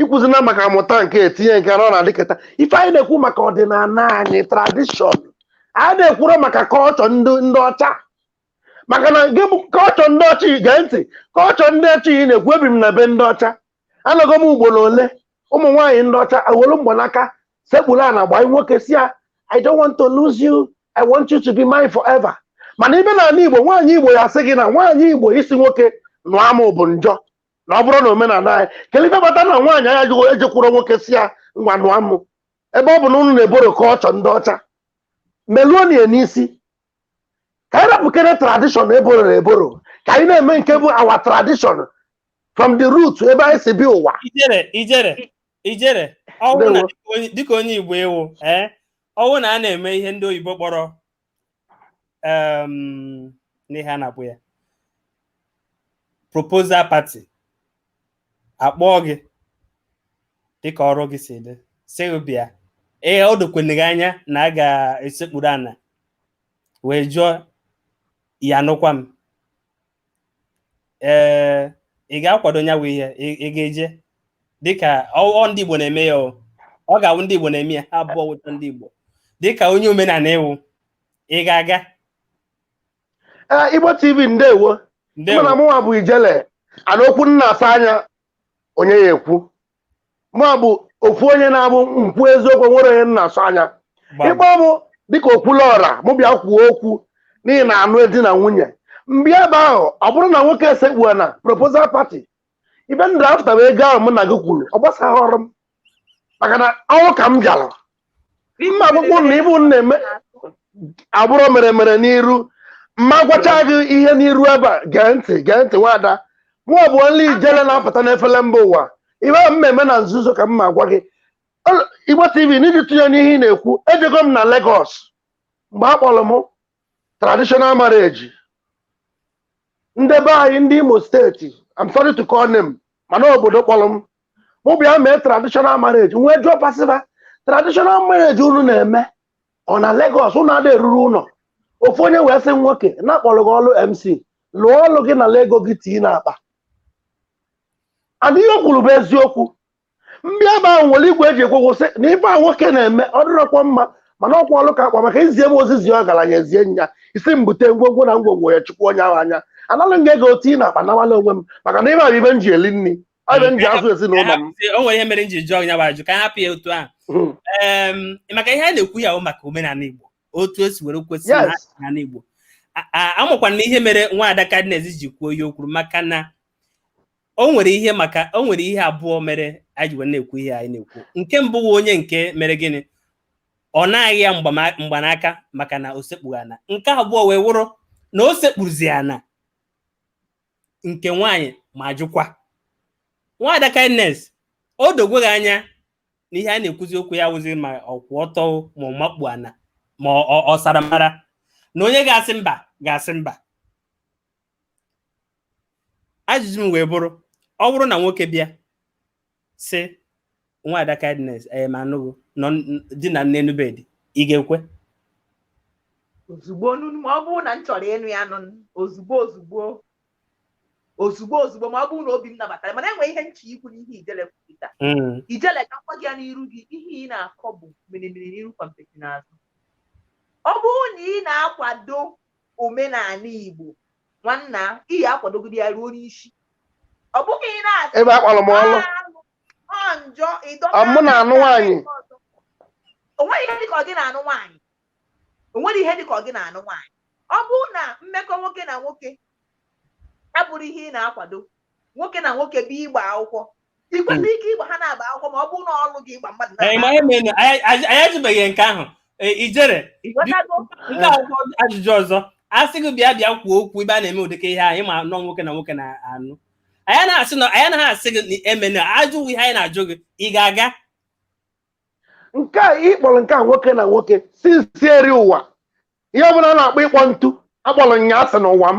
ikwuzina maka amụta nke etinye nke na ọ na-adịkịta ife anyị na-ekwu maka ọdịnala anyị tradishọn anyị na-ekwuro maka kọlchọ ndị ndị ọcha maka na gị bụ kọlchọ ndị ọcha ị gee ntị kọlchọ ndị ọcha ị na-ekwu ebi m na be ndị ọcha anọgo m ugboro ole ụmụ nwaanyị ndị ọcha ewelu mgbanaka sekpuru ana gbaa nwoke sị ya i don't want to lose you i want you to be mine forever mana ị bịa n'ala igbo nwaanyị igbo ya sị gị na nwaanyị igbo ịsị nwoke nụọ mụ bụ njọ na ọ bụrụ na omenala anyị kedu ife kpata na nwaanyị anaghị ejekwuru nwoke sị ya ngwa nụọ mụ ebe ọ bụ na unu na-eboro kọlchọ ndị ọcha meluonu ya n'isi ka anyị rapụkere tradishọn e bororo eboro ka anyị na-eme nke bụ our tradishọn from the root ebe anyị si bịa ụwa ijele ijele ijele ọ wụ na Ndewo. dịka onye- dịka onye igbo ị wụ ee ọ wụ na a na-eme ihe ndị oyibo kpọrọ um, n'ihe a na-akpọ ya proposal party a kpọọ gị dịka ọrụ gị si dị sị gị bịa ee ọ dokwene gị anya na a ga-esekpuru ana wee jụọ ya nụkwa m ee eh, ị ga-akwado nya wụ ihe ị ga-eje dịka ọ ndị Igbo na-eme ya ọ ga-awụ ndị Igbo na-eme ya ha abụọ wụcha ndị Igbo dịka onye omenala ị wụ ị ga-aga eh, Igbo TV ndewo mana mụnwa bụ ijele ana okwu na-asọ anya onye ya-ekwu mụ bụ ofu onye na-abụ m kwuo eziokwu nwerọ onye m na-asọ anya ị kpọọ mụ dịka okwuluọra mụ bịa kwuo okwu n'ihe a na-anụ di na nwunye m bịa ebe ahụ ọ bụrụ na nwoke esekpuo na proposal pati ife m dị after bụ ego ahụ mụ na gị kwuru ọ gbasaghị ọrụ m maka na ọrụ ka m bịara m ma-agwakwa unu na ife m na-eme abụrọ mere mere n'iru m ma-agwacha gị ihe n'iru ebe a gee ntị gee ntị nwada mụnwa bụ onye ijele na-apụta n'efere mba ụwa ihe m ma-eme na nzuzo ka m ma gwa gị Ọ- igbo tv n'iji tụnye n'ihe ị na-ekwu ejego m na Lagos mgbe a kpọrọ m traditional marriage ndị be anyị ndị imo steeti I'm sorry to call name mana obodo kpọrọ m mụ bịa mee traditional marriage m wee jụọ passerby traditional marriage unu na-eme ọ na Lagos unu ada eruru ụlọ ofu onye wee sị nwoke na-akpọrọ gị ọrụ MC lụọ ọrụ gị nara ego gị tii n'akpa and ihe o kwuru bụ eziokwu m bịa ebe ahụ were igwe e ji ekwu okwu sị na ife a nwoke na-eme ọ dịrọkwa mma mana ọkwa ọrụ ka a kpọ m maka e zie m ozi zie ọgaranya ezie nya ị sị m bute ngwongwo na ngwongwo ya chukwu onye ahụ anya anara m gị ego tii n'akpa nawala onwe m maka na ife a bụ ife m ji eli nri Ọ bụ m ji azụ ezinụlọ m. o nwere ihe mere m ji jụọ ya bụ ajụ ka anyị hapụ ya otu ahụ Hmm. Em, maka ihe a na-ekwu ya bụ maka omenala Igbo otu o si were kwesị na Yes. omenala Igbo A- a- amakwa na ihe mere nwaada kindness ji kwuo ihe o kwuru maka na o nwere ihe maka o nwere ihe abụọ mere anyị ji wee na-ekwu ihe anyị na-ekwu nke mbụ bụ onye nke mere gịnị ọ naghị ya mgbama- mgbanaka maka na o sekpughị ana nke abụọ wee wụrụ na o sekpuzi ana nke nwaanyị ma jụkwa nwaada kindness o dogweghị anya na ihe a na-ekwuzi okwu ya wụzi ma ọ kwụ ọtọ ma ọ makpu ana ma ọ sara mbara na onye ga-asị mba ga-asị mba ajụjụ m wee bụrụ ọ bụrụ na nwoke bịa sị nwaada kindness ee ma anụghị nọ di na nne nụbe di ị ga-ekwe ozugbo ma ọ bụrụ na m chọrọ ịnụ ya nụ ozugbo ozugbo ozugbo ozugbo ma ọ bụrụ na obi m nabatara mana e nwee ihe m chọ ikwu n'ihe ijele kwupụta hmm. ijele ka m kpọ gị ya n'iru gị ihe ị na-akọ bụ meremere n'iru kwampeti n'azụ ọ bụrụ na ị na-akwado omenala Igbo nwanna ị ya-akwadogide ya ruo n'isi ọ bụghị ị na-asị ebe a kpọrọ m ọrụ ọ njọ ịdọta mụ na-anụ nwaanyị o nweghị ihe dịka ọ gị na-anụ nwaanyị o nwere ihe dịka ọ gị na-anụ nwaanyị ọ bụrụ na mmekọ nwoke na nwoke abụrụ ihe ị na-akwado nwoke na nwoke bịa ịgba akwụkwọ ị kwesịrị ike ịgba ha na-agba akwụkwọ ma ọ bụrụ na ọrụ gị ịgba mmadụ Ee, ma eme na- anyị anyị- anyị ajụbeghị nke ahụ Ee, ijele ị ghọtago nke a bụ ajụjụ ọzọ a sị gị bịa bịa kwuo okwu ebe a na-eme ụdịka ihe a ị ma na ọ nwoke na nwoke na-anụ anyị na-asị na anyị anaghị asị gị emena ajụ wụ ihe anyị na-ajụ gị ị ga-aga nke a ị kpọrọ nke a nwoke na nwoke since eri ụwa ihe ọbụla a na-akpọ ịkpọ ntu akpọrọ m ya asị n'ụwa m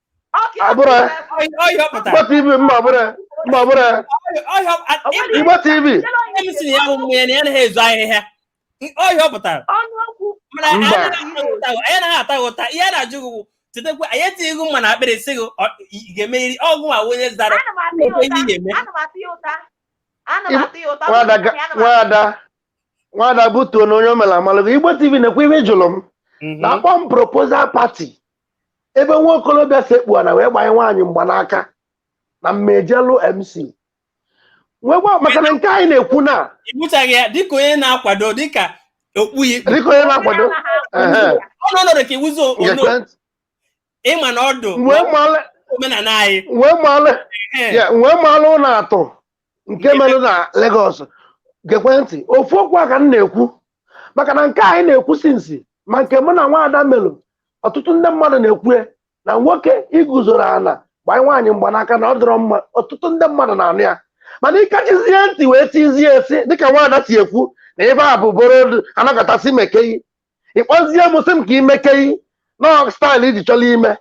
Igbo TV ọhịa pụtara mana anyị anaghị ata ụta ihe a na-ajụ gị chetakwa anyị etinyeghị gị mma n'akpịrị sị gị ga-emeriri ọgwụ ma onye zara nwada butuo na onye omela amalụgo Igbo TV nekwa ihe ị jụrụ m na a kpọ m proposal party ebe nwa okorobịa sekpu ana wee gbanye nwaanyị mgbanaka na m ejelụ mc nwekwa maka na nke anyị na-ekwu na ibuchaghị ya dịka onye na-akwado dịka okpu ya ikpu dịka onye na-akwado ehe, ọ nọ nọrọ ka iwuzo ono gekwe- ịma na ọdụ wee maalụ omenala anyị wee maalụ Ee, ya wee maalụ unu atụ nke mere na Lagos gekwe ntị ofu okwu a ka m na-ekwu maka na nke anyị na-ekwu sinsi ma nke mụ na nwaada melụ ọtụtụ ndị mmadụ na-ekwue na nwoke iguzoro ana gbanye nwaanyị mgbanaka na ọ dịrọ mma ọtụtụ ndị mmadụ na-anụ ya mana ịkachizie ntị wee tizie esi dịka nwaada si ekwu na ebe a bụ boro anakọtasị mee ke gị ịkpọzie m sị m ka i mee ke gị na staịlụ iji chọrọ ime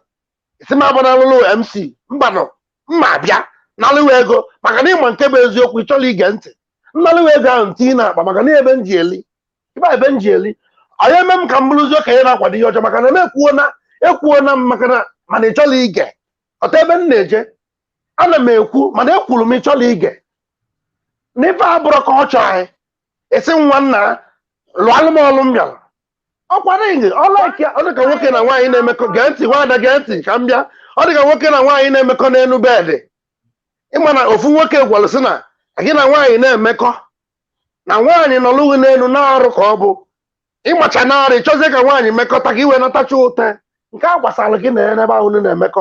si m abụ na alụlụ mc mbanụ m ma abịa nalụwa ego maka na ịma nke bụ eziokwu ị chọrọ ige ntị m nalụwa ego ahụ tinye na akpa maka na ebe m ji eli ibe ebe m ji eli ọ nya eme m ka m bụrụzi okenye na-akwado ihe ọjọọ maka na m ekwuo na ekwuo na m maka na mana ị chọrọ ịghọta ebe m na-eje ana m ekwu mana ekwuru m ị chọrọ ige na ife a abụrọ ka ọ chọọ anyị esi nwa nna lụalụ m ọlụ m bịara ọkwa ring ọlaaka ọ dịka nwoke na nwaanyị na-emekọ gee ntị nwaada gee ntị ka m bịa ọ dịka nwoke na nwaanyị na-emekọ n'elu bedị ịma na ofu nwoke gwara sị na gị na nwaanyị na-emekọ na nwaanyị nọlụ gị n'elu na-arụ ka ọ bụ ịmacha na-arụ ịchọzie ka nwaanyị mekọta ka i wee natacha ụtọ nke a gbasara gị na ya n'ebe ahụ unu na-emekọ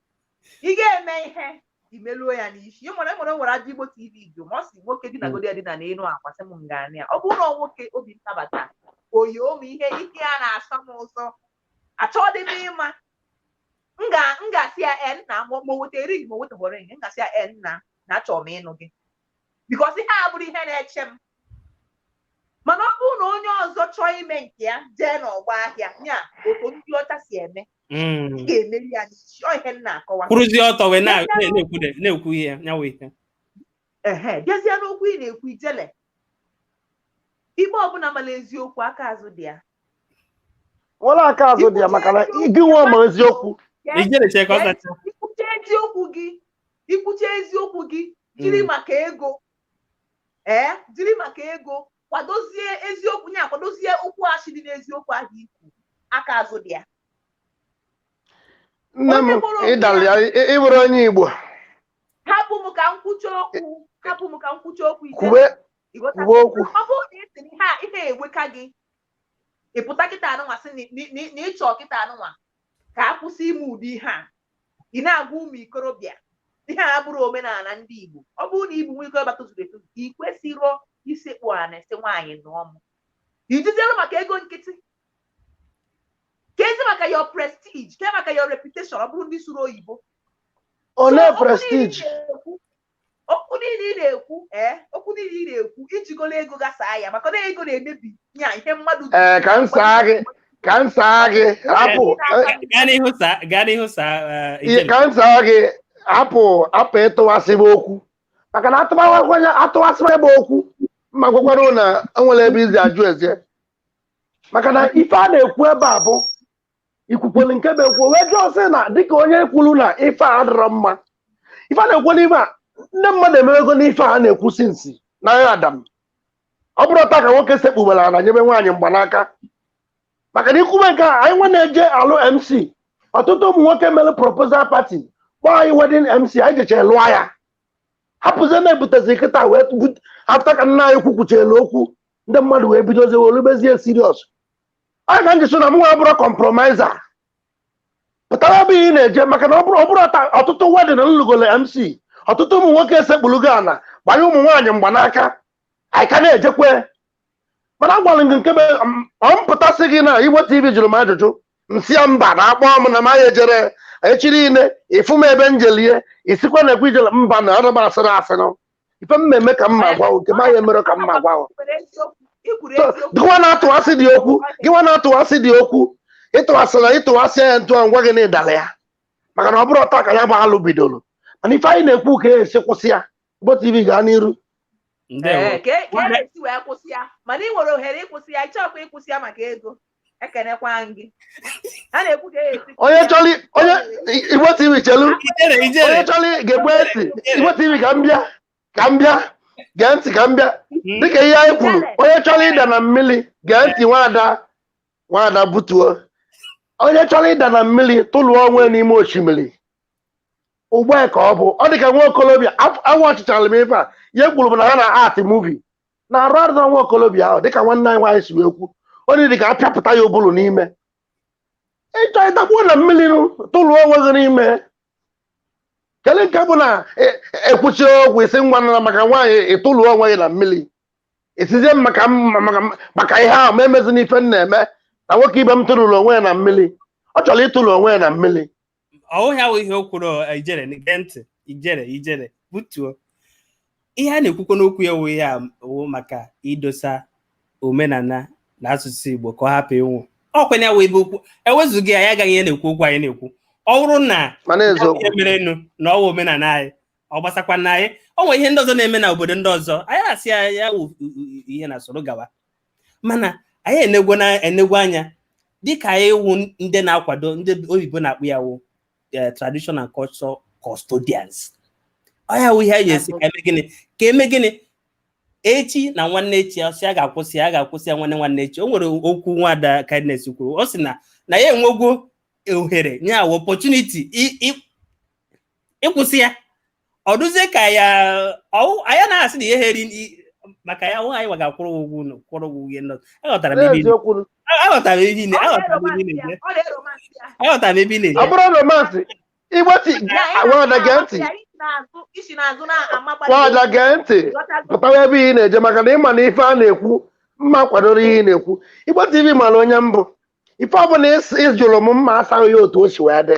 ị ga-eme ihe i meluo ya n'isi ị mara enwere nwere ajụjụ igbo tv jụ m ọ sị nwoke dinagodi edina n'elu akwa sị m m ga-anụ ya ọ bụrụ na ọ nwoke obi m nabata oyi ụmụ ihe ike ya na-asọ m ụsọ achọdị m ịma m ga- m ga-asị ya e nna ma ma o weta ring ma o wetaghị ring m ga-asị ya e nna na achọrọ m ịnụ gị bikọs ihe a abụrọ ihe na-eche m mana ọ bụrụ na onye ọzọ chọọ ime nke ya jee n'ọgba ahịa ya otu ndị ọcha si eme ị ga-emeri ya n'isi ọ ihe m na-akọwa kwụrụzie ọtọ wee na- na- na-ekwu de- na-ekwu ihe ya nyawa ihe ehe bịazie n'okwu ị na-ekwu ijele ikpe ọbụla mara eziokwu aka azụ dị ya nwere aka azụ dị ya maka na gị nwa ma eziokwu ijele chee ka ọ zacha ikwucha eziokwu gị ikwucha eziokwu gị jiri mm. maka ego ee jiri maka ego kwadozie eziokwu nye akwadozie okwu asị dị n'eziokwu ahụ ikwu aka azụ dị ya nne m ịdala ya ịbụrụ onye Igbo hapụ m ka m kwucha okwu hapụ m ka m kwucha okwu kwuwe okwu ọ bụrụ na esi ihe a iwe eweka gị ịpụta kịta anụnwa sị na ịchọ kịta anụnwa ka a kwụsị ime ụdị ihe a ị na-agwa ụmụ ikorobịa ihe a abụrọ omenala ndị Igbo ọ bụrụ na ị bụ nwa ikorobịa tozuru etozu ị kwesịrọ isekpu ana sị nwaanyị nụọ m ijiziere maka ego nkịtị kezi maka your prestige ke maka your reputation ọ bụrụ ndị sụrụ oyibo olee prestige okwu niile ị na-ekwu ee okwu niile ị na-ekwu ijigolo ego gasaa ya maka na ego na-emebi ya ihe mmadụ ji ee ka m saa gị ka m saa gị hapụ gaa n'ihu saa gaa n'ihu saa eh, ihe Ijele. ka m saa gị hapụ hapụ ịtụwasị m okwu maka na atụwakwanye atụwasị m okwu ma gwakwara na enwere ebe izi ajụ eze maka na ife a na-ekwu ebe a bụ ikwukwere nke bụ ekwu wee jụọ sị na dịka onye kwuru na ife a adịrọ mma ife a na-ekwu n'ime a ndị mmadụ emewego n'ife a na-ekwu since na ya Adam ọ bụrọ taa ka nwoke sekpubere ala nyebe nwaanyị mgbanaka maka na ikwube nke a anyịnwa na-eje alụ mc ọtụtụ ụmụ nwoke mere proposal party kpọọ anyị wedding mc anyị jecha lụọ ya hapụzie na-ebutezi kịta wee after ka nna anyị ukwu kwuchalu okwu ndị mmadụ wee bidozie wee lubezie serious a ka m ji sị na mụnwa abụrụ kọmpromaịza pụtara ebe ị na-eje maka na ọ bụrọ ọ bụrọ taa ọtụtụ wedding m lụgolo mc ọtụtụ ụmụ nwoke esekpulugo ala gbanye ụmụ nwaanyị mgbanaka anyị ka na-ejekwe mana agwara m gị nke be m- ọ m pụta sị gị na Igbo TV jụrụ m ajụjụ m sị ya mba na akpọ m na m anya ejere echi niile ị fụ m ebe m jelie ị sịkwa na ekwe Ijele mba na ọrụ m asịrị asịrị ife m na-eme ka m na-agwa nke ma ya mere ka m na-agwa gịwa na-atụwasị dị okwu gịwa na-atụwasị dị okwu ịtụwasị na ịtụwasị ya ntụ m gwa gị na ị dala ya maka na ọ bụrọ taa ka ya bụ alụ bidoro mana ife anyị na-ekwu ka esi kwụsị ya Igbo TV gaa n'iru ka e, e, e si wee kwụsị ya mana ị nwere ohere ịkwụsị ya ị chọkwa ịkwụsị ya maka ego ekenekwa gị a na-ekwu ka esi onye chọrọ onye Igbo TV chelu onye chọrọ ga-egbu esi Igbo TV ka m bịa ka m bịa gee ntị ka m bịa hmm. dịka ihe anyị kwuru onye chọrọ ịda na mmiri gee ntị Nwada Nwada butuo onye chọrọ ịda na mmiri tụlụọ onwe n'ime osimiri ugbu a ka ọ bụ ọ dị ka nwa okorobịa awa ọchịchara m ife a ihe kwuru bụ na ha na-act movie na-arụ arụ na nwa okorobịa ahụ dịka nwanne anyị nwaanyị si wee kwu onye dị ka apịapụta ya ụbụrụ n'ime ị chọọ ịdakpuo na mmiri tụrụọ onwe gị n'ime kedu nke bụ na ekwuchie okwu isi nwa nara maka nwaanyị ịtụrụ onwe gị na mmiri ị sịzie maka maka ihe ahụ ma emezi n'ife m na-eme na nwoke ibe m tụrụrụ onwe ya na mmiri ọ chọrọ ịtụrụ onwe ya na mmiri ọ wụghị ya wụ ihe o kwuru eh, Ijele gee ntị Ijele Ijele butuo ihe a na-ekwukwa n'okwu a wụ ihe a wụ maka idosa omenala na asụsụ Igbo ka ọ hapụ ịnwụ ọ kwa ya wụ ebe okwu ewezụga ya ya agaghị ya na-ekwu okwu anyị na-ekwu ọ bụrụ na mana ya eziokwu ihe merenụ na ọ wụ omenala anyị ọ gbasakwa na anyị o nwere ihe ndị ọzọ na-eme na obodo ndị ọzọ anyị asị ya ya wụ u- u- u- ihe na soro gawa mana anyị enegwo na enegwo anya dịka anyị wụ ndị na-akwado ndị oyibo na-akpọ ya wụ eh, traditional and cultural custodians ọ ya wụ ihe anyị ji sị ka eme gịnị ka eme gịnị echi na nwanne echi ọ sị a ga-akwụsị ya a ga-akwụsị ya nwanne nwanne echi o nwere okwu nwada kindness kwuru ọ sị na na ya enwegwo ohere nya wụ opportunity i- i- ịkwụsị ya ọ dịzie ka ya anya na-asị na ihe ha eri maka ya nwaanyị gwa ga-akwụrụ ụgwọ ụlọ kwụrụ ụgwọ ihe nọ aghọtara m ebe aghọtara m ebe aghọtara m ebe ị na-eje aghọtara m ebe ị na-eje ọ bụrụ romansị Igbo TV nwada gee ntị nwada gee ntị pụtawa ebe ị na-eje maka na ị ma na ife a na-ekwu mụwa kwadoro ihe ị na-ekwu Igbo TV mara onye m bụ ife ọ bụla ị jụrụ m mụ asa gị ya otu o si wee dị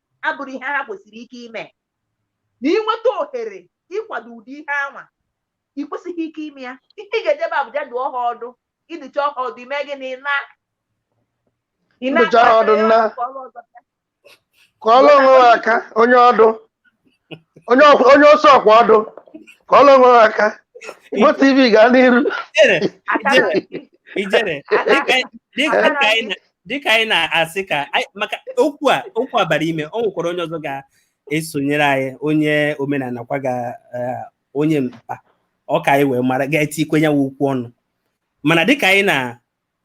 abụrụ ihe ha kwesịrị ike ime na ị nweta ohere ịkwado ụdị ihe anwa ị kwesịghị ike ime ya ihe ị ga-eje ebe a bụ ja dụọ ha ọdụ ị dụchaa ha ọdụ ị mee gịnị ị naa ị naa ndụcha ha ọdụ nna. kọọrọ onwe ha aka onye ọdụ onye ọkwa- onye ọsọ ọkwa ọdụ ka ọ lọnwe aka Igbo TV gaa n'iru Ijere, Akara isi. ijere, dịka anyị- dịka- Akara dịka anyị na- dịka anyị na-asị ka anyị- maka okwu a okwu a bara ime o nwekwara onye ọzọ ga-esonyere anyị onye omenala kwa ga eh, onye mkpa ọ ka anyị wee mara ga-etikwenye okwu ọnụ mana dịka anyị na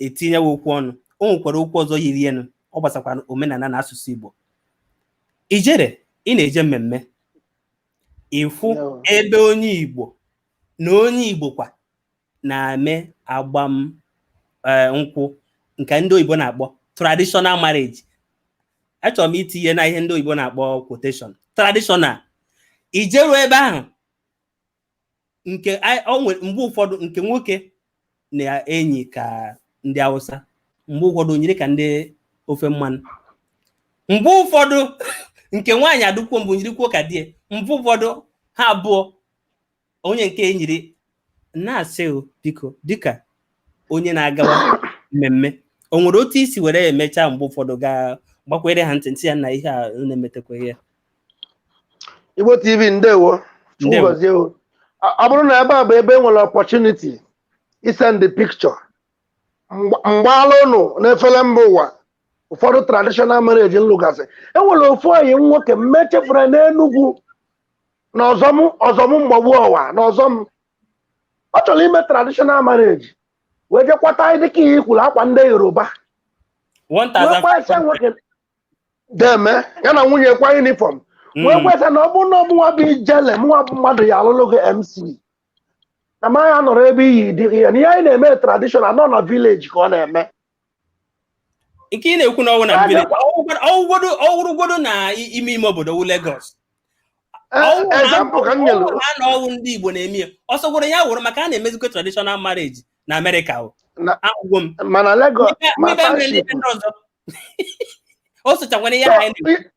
etinye okwu ọnụ o nwekwara okwu ọzọ yiri enu ọ gbasakwara omenala na asụsụ Igbo ijere ị na-eje mmemme ị fụ ebe onye Igbo na onye Igbo kwa na-eme agbam eh, nkwụ nke ndị oyibo na-akpọ traditional marriage achọrọ m itinye na ihe ndị oyibo na-akpọ quotation traditional i jeru ebe ahụ nke mgbe ụfọdụ nke nwoke na-enyi ka ndị Hausa mgbe ụfọdụ o nyiri ka ndị ofe mmanụ mgbe ụfọdụ nke nwaanyị adụkwuo mbụ nyirikwuo ka di ya mgbe ụfọdụ ha abụọ onye nke enyiri na-asị biko dịka onye na-agawa mmemme o nwere otu i si were emecha mgbe ụfọdụ gaa gbakwere ha ntị sị ya na ihe a na-emetakwa ihe Igbo TV ndewo Chukwu gọzie o ọ bụrụ na ebe a bụ ebe e nwere opportunity isend picture m gbaala ụnụ n'efere mba ụwa ụfọdụ traditional marriage m lụgasị enwere ofu ọyị m nwoke m mechefere n'Enugwu na Ọzọm Ọzọm Mgbagbu Ọwa na Ọzọm ọ chọrọ ime traditional marriage wee je kwata dịka ihe i kwuru akwa ndị Yoruba deme ya na nwunye kwa yunifọm wee Mm. kweta na ọ bụ na ọ mụnwa bụ ijele mụnwa bụ mmadụ ya-alụlụ gị MC na ma ya nọrọ ebe iyi dị gị ya na ihe anyị na-eme tradishọnal nọ na vileji ka ọ na-eme nke ị na-ekwu na ọwụ na village ọwụgodo ọwụrụgodo na i- ime ime obodo wụ Lagos Ọwụ na- ezampụ ka m nyere ọwụ na anọ ọwụ ndị Igbo na-eme ya ọ sọgworo ya wụrụ maka a na-emezikwa traditional marriage na Amerịka o Na- ahụgo m mana Legọs N'ibe- ma n'ibe mere ndị Township, ndị ọzọ o socha nwere ihe So, anyị na-ekwu. i-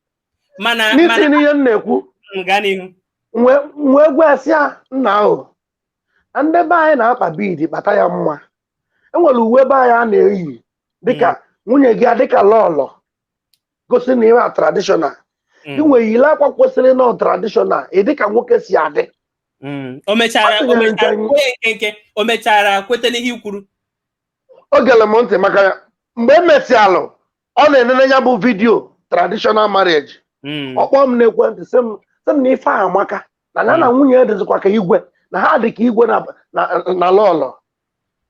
mana n'isi mana n'ihe m na-ekwu m gaa n'ihu wee wee gwa ya sị ya nna ahụ ndị be anyị na-akpa bead kpata ya mma e nwere uwe be anyị a na-eyi dịka nwunye gị a dịka lọlọ gosi na ịwa tradishọnal Mm, inwe yile akwa kwesịrị nọ tradishọnal ị dịka nwoke si adị mm. o mechara Ọ o tinyere mechara nkenke. kwee nkenke o mechara kweta n'ihe i kwuru o gere m ntị maka ya mgbe e mesịalụ ọ na-enene ya bụ vidiyo traditional marriage Mm. ọ kpọọ m n'ekwentị sị m sị m na ife a amaka na ya na nwunye ya dịzikwa ka igwe na ha dị ka igwe na- na- na lọlọ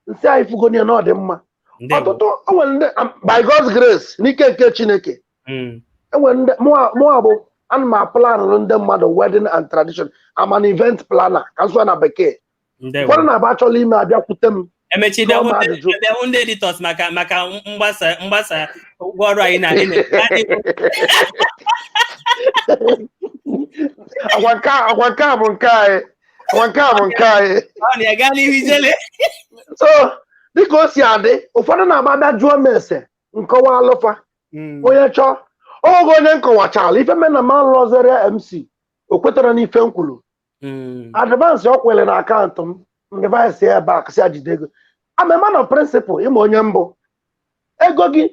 m sị ya ị fugoni ya na ọ dị mma Ndewo. ọtụtụ o nwere ndị am- by God's grace n'ike nke Chineke Mm. e nwere ndị mụa mụa bụ a na m aplanụrụ ndị mmadụ wedding and tradition I'm an event planner ka m sụọ na bekee ndewo ụfọdụ na-abụ achọla ime a bịakwute m emechi Jụọ m bịahụ ndị- ajụjụ. bịahụ ndị editọs maka maka mgbasa mgbasa ụgwọ ọrụ anyị na anyị na-adịghị agwa nke a- agwa nke a bụ nke anyị agwa nke a bụ nke anyị ọ na ya gaa n'ihu ijele so dịka o si adị ụfọdụ na-abụ a bịa jụọ m ese m kọwaalụ fa onye chọọ o gee onye m kọwachala ife me na m alụzirọ ya MC o kwetara n'ife m kwuru hmm. advansị ọ kwụlụ na akaụntụ m m reverse ya back sị ya jide ego I'm a man of principle ị ma onye m bụ ego gị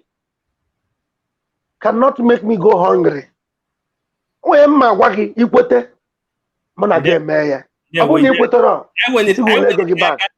cannot make me go hungry onye mma agwa gị i kwete mụ na gị emee ya ọ bụrụ na ị kwetarọ ego gị back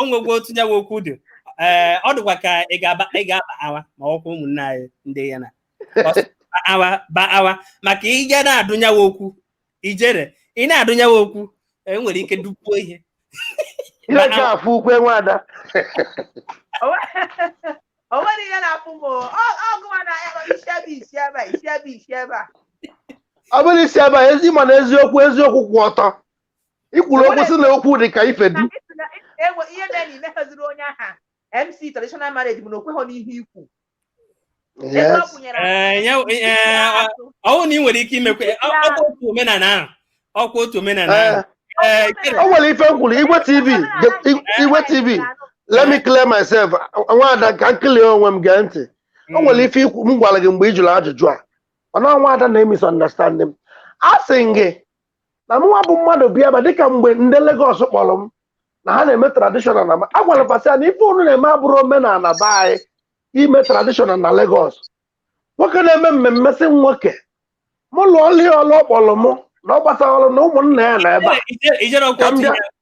o nwegwo otu nyawa okwu dị ee ọ dịkwa ka ị ga-aba ị ga-aba awa ma ọkwa ụmụnne anyị ndị ya na Ọ sị, ba awa ba awa maka ị ya na-adụ nyawa okwu ijere ị na-adụ nyawa okwu e nwere ike dupuo ihe ihe ka afụ ukwu nwada o nwere ihe na-afụ m o. Ọ- ọgụwa na ya bụ isi ebe isi ebe a, isi ebe isi ebe a ọ bụrụ isi ebe a ezi ma na eziokwu eziokwu kwụ ọtọ ikwuru okwu si na okwu dị ka ife du ihe mere na imeghaziri onye aha mc traditional marriage bụ na okweghọ n'ihe i kwu ọwụ na ị nwere ike imekwe ọkwa otu omenala ahụ ọkwa otu omenala ahụ o nwere ife m kwuru igwe tv igwe tv let me clear myself nwaada ka m clear onwe m gee ntị o nwere mm. ife ikwu m gwara gị mgbe ị jụrụ ajụjụ a ọ na nwaada na-emisunderstand m a sị m gị na mụnwa bụ mmadụ bịaba dịka mgbe ndị Lagos kpọrọ m na ha na-eme traditional na a gwara pasi ya na ife unu na-eme abụrọ omenala be anyị ime traditional na Lagos nwoke na-eme mmemme sị nwoke mụ lụọ ọlụ ya ọlụ ọ kpọrọ mụ na ọ gbasarọ mụ na ụmụnna ya nọ ebe a Ije- Ijele ọkwa Ka m bịa. tinye-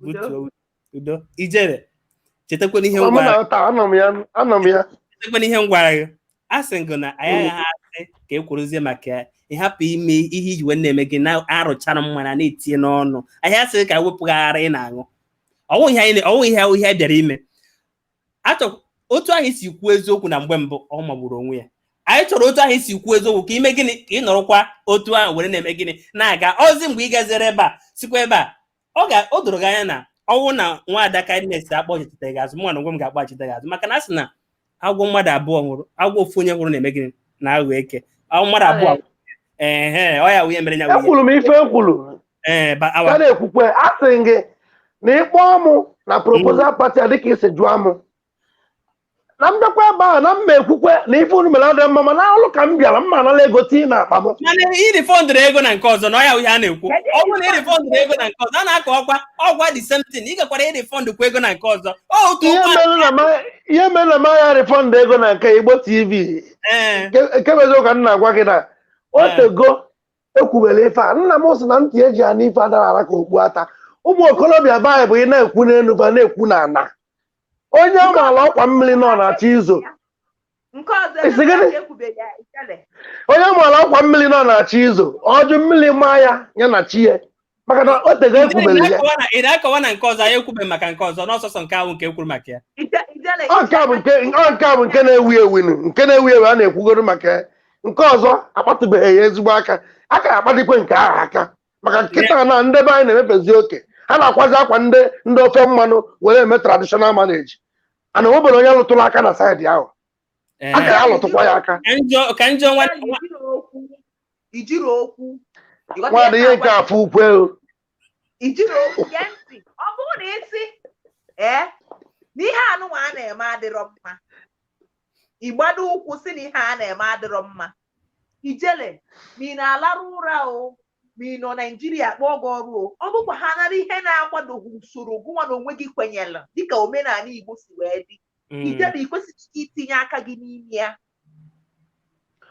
butuo udo Ijele chetakwana ihe Ọ mụ gwara na ụta anọ m ya anọ m ya chetakwana ihe m gwara gị a sị m gị na anyị agaghị asị ka e kwuruzie maka ya ị hapụ ime ihe i ji wee na-eme gị na-arụchara mmanya na-etinye n'ọnụ anyị asịghị ka wepụghara ị na-aṅụ ọ wụ ihe anyị ọ wụ ihe ihe a bịara ime achọ otu ahụ i si kwuo eziokwu na mgbe mbụ ọ magburu onwe ya anyị chọrọ otu ahụ i si kwuo eziokwu ka i mee gịnị ka ị nọrọkwa otu ahụ were na-eme gịnị na-aga ozi mgbe ị gaziri ebe a sikwa ebe a ọ ga o doro gị anya na ọ wụ na nwaada Kindness akpọchite gị azụ mụ na onwe m ga-akpọchite gị azụ maka na a sị na agwọ mmadụ abụọ hụrụ agwọ ofu onye hụrụ na-eme gịnị na-aghọ eke agwọ mmadụ abụọ Aghọ eke ọ ya wụ ihe mere ya wụ ihe ekwuru m ife ekwuru ee ba- awa- ka na-ekwukwe a sị m gị na ị kpọọ mụ na proposal party a dịka i si jụọ mụ na m bịakwa ebe ahụ na m ma ekwukwe na ife unu mere adịghị mma mana ọrụ ka m bịara m ma anala ego tii na akpa m mana i refundụrụ ego na nke ọzọ na ọ ya ihe a na-ekwu ọ bụrụ na i refundụrụ ego na nke ọzọ a na-akọ ọkwa ọ wụ the same thing ị gakwara i-refund kwa ego na nke ọzọ ọ otu ihe ụgwọ mere na ma- ihe mere na m ya refund ego na nke igbo tv ee ekebezi ka m na-agwa gị na o tego e kwubere ife a nna m sị na ntị e ji anụ ife adara ara ka okpu ata ụmụ okorobịa be anyị bụ ị na-ekwu n'elu ba na-ekwu na ana onye a maara ọkwa mmiri nọ na-achọ izo nke ọzọ Ị sị gịnị? ekwubeghị ya Ijele onye a maara ọkwa mmiri nọ na-achọ izo ọ jụ mmiri maa ya ya na chi ya maka na o tego e kwubere ya Na-akọwa na- ị na-akọwa na nke ọzọ anyị ekwubeghị maka nke ọzọ na ọ sọsọ nke ahụ nke e kwuru maka ya Ije- ijele ọ nke a bụ nke ọ nke a bụ nke na-ewu ewu nụ, nke na-ewu ewu a na-ekwugoro maka ya. nke ọzọ akpatụbeghị ya ezigbo aka a ga-akpatụkwe nke ahụ aka maka kịta na ndị be anyị na-emefezi oke ha na-akwazi akwa ndị ndị ofe mmanụ were eme traditional marriage a na o nwebere onye lụtụrụ aka na saịdị ahụ Ee. a ga-alụtụkwa ya aka Ka njọ ka njọ nwa Ijele ukwu Ijele ukwu ị ghọta nwaada ihe ihe nke na-agwa- afọ ukwu ego Ijele ukwu gee ntị ọ bụrụ na ị sị ee na ihe anụnwa a na-eme adịrọ mma ịgbado ụkwụ sị na ihe a na-eme adịrọ mma ijele ma ị na-alarụ ụra o ma ị nọ naijiria kpọọ gị ọrụ o ọ bụkwa ha nara ihe na-akwadoghị usoro gụnwa na onwe gị kwenyelu dịka omenala igbo si wee dị mm. ijele i kwesịghị itinye aka gị n'ime ya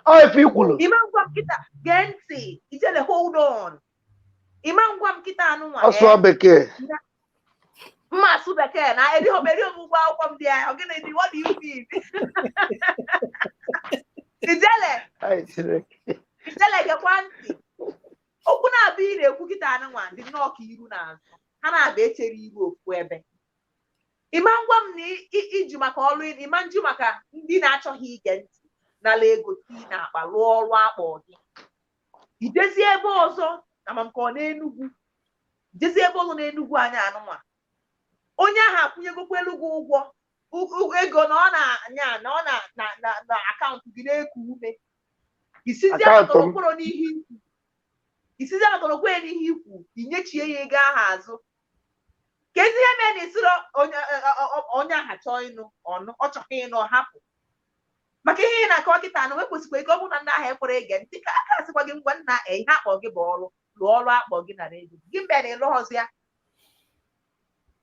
ọ ife i kwulu ị ma ngwa m kịta gee ntị ijele hold on ị ma ngwa m kịta anụnwa ọ sụọ eh? bekee m ma-asụ bekee na erighị m erighị m ụgwọ akwụkwọ m dị ya ọ gịnị dị what do you mean ijele Ai, Chineke. ijele gekwa ntị okwu na-abịa ị na-ekwu kịta anụnwa dị nnọọ ka iru na azụ ha na-abịa echere iru ofu ebe ị ma ngwa m na i- i- i ji maka ọrụ ị- ị ma njụ maka ndị na-achọghị ige ntị nala ego tii n'akpa rụọ ọrụ a kpọ gị i jezi ebe ọzọ ama m ka ọ n'enugwu i jezi ebe ọzọ n'enugwu anyị anụnwa onye ahụ akwụnyegokwaalụ gị ụgwọ u- u- ego na ọ na-anya na ọ na- na- na- na akaụntụ gị na-eku ume ị sịzi Akaụntụ m. anatọrọkworo n'ihe i kwu ị sịzi anatọrọkworo n'ihe i kwu i nyechie ya ego ahụ azụ ka ezi ihe mee na isiro onye ọ- ọ- ọ- onye ahụ chọọ ịnụ ọ nụ ọ chọghị ịnụ ọ hapụ maka ihe ị na-akọwa kịta na ekwesịkwa ike ọ bụrụ na ndị ahụ ekwere ege ntị ka aka a sịkwa gị ngwa nna e ihe a kpọ gị bụ ọrụ lụọ ọrụ a kpọ gị na redio gị mgbe na ị lụrọzi ya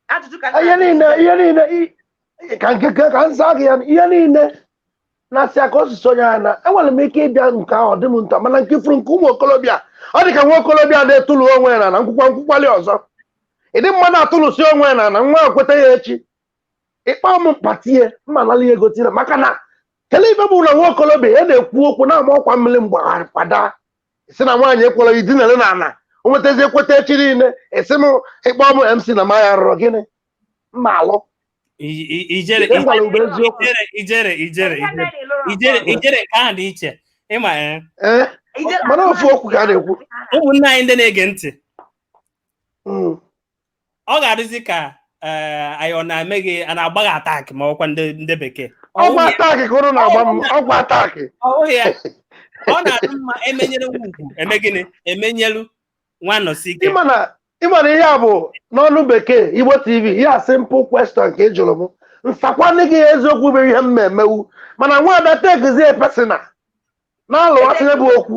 ajụjụ ka nna ihe gị niile ihe niile i- i- ka nke ka ka m zaa gị ya ihe niile na-asị ya ka o si sonye ya na enwere m ike ịbịa nke ahụ ọ dị m nta mana nke furu nke ụmụ okolobịa ọ dị ka nwa okolobịa na-etulu onwe ya na na nkwụkwa nkwụkwali ọzọ ịdị mma na-atụlụsi onwe ya na na nwa ekweta ya echi ị kpọọ m mkpatie mma nala ihe gotire maka na kele ife bụ na nwa okolobịa ya na-ekwu okwu na-ama ọkwa mmiri mgbagharị kwada isi na nwaanyị ekwere idinere n'ana o nwetazi ekweta echi niile asị m ị kpọọ m mc na m ya-arụrụ gị na m ma-alụ I- i- ijere Ị gwara mgbe eziokwu. ijere ijere ijere Ị ijere gaghị lụrụ ijere ọgụ. ijere nke ahụ dị iche ị ma ya ee Ị gaghị mana ofu okwu ka a na-ekwu ụmụnne anyị ndị na-ege ntị Mm. ọ ga-adịzi ka eh, anyị ọ na-eme gị a na-agba gị attack ma ọkwa ndị ndị bekee Ọ ọgwụ wụghị- attack ka ụrụ na-agba m ọgwụ attack ọ wụghị ya ọ na-adị mma e menyere nwa ugwu e mee gịnị e menyelu nwa anọsike ị ma na ị ma na ihe a bụ n'ọnụ bekee igbo tv ihe a simple question ka ị jụrụ m m sakwanị gị eziokwu bụ ihe m na-emewu mana nwaada takezie personal na-alụwasịnye bụ okwu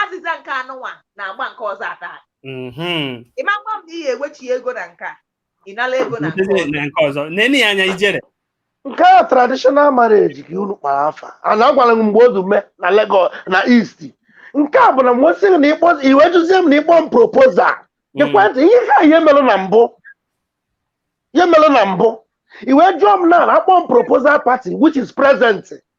azịza nke anụnwa na-agba nke ọzọ ata mm-hmm. ịmakwa m na ihe ewechi ego na nke a ị nara ego na nke ọzọ nenie anya Ijele nke a traditional marriage ka unu kpara afa a na agwara m mgbe ozu mee na Lagos na East nke a bụ na mgbe sịrị na ịkpọ i wee jụzie m na ịkpọ m proposal mm. ekwentị ihe ka ihe mere na mbụ ihe mere na mbụ i wee jụọ m na a kpọọ m proposal party which is present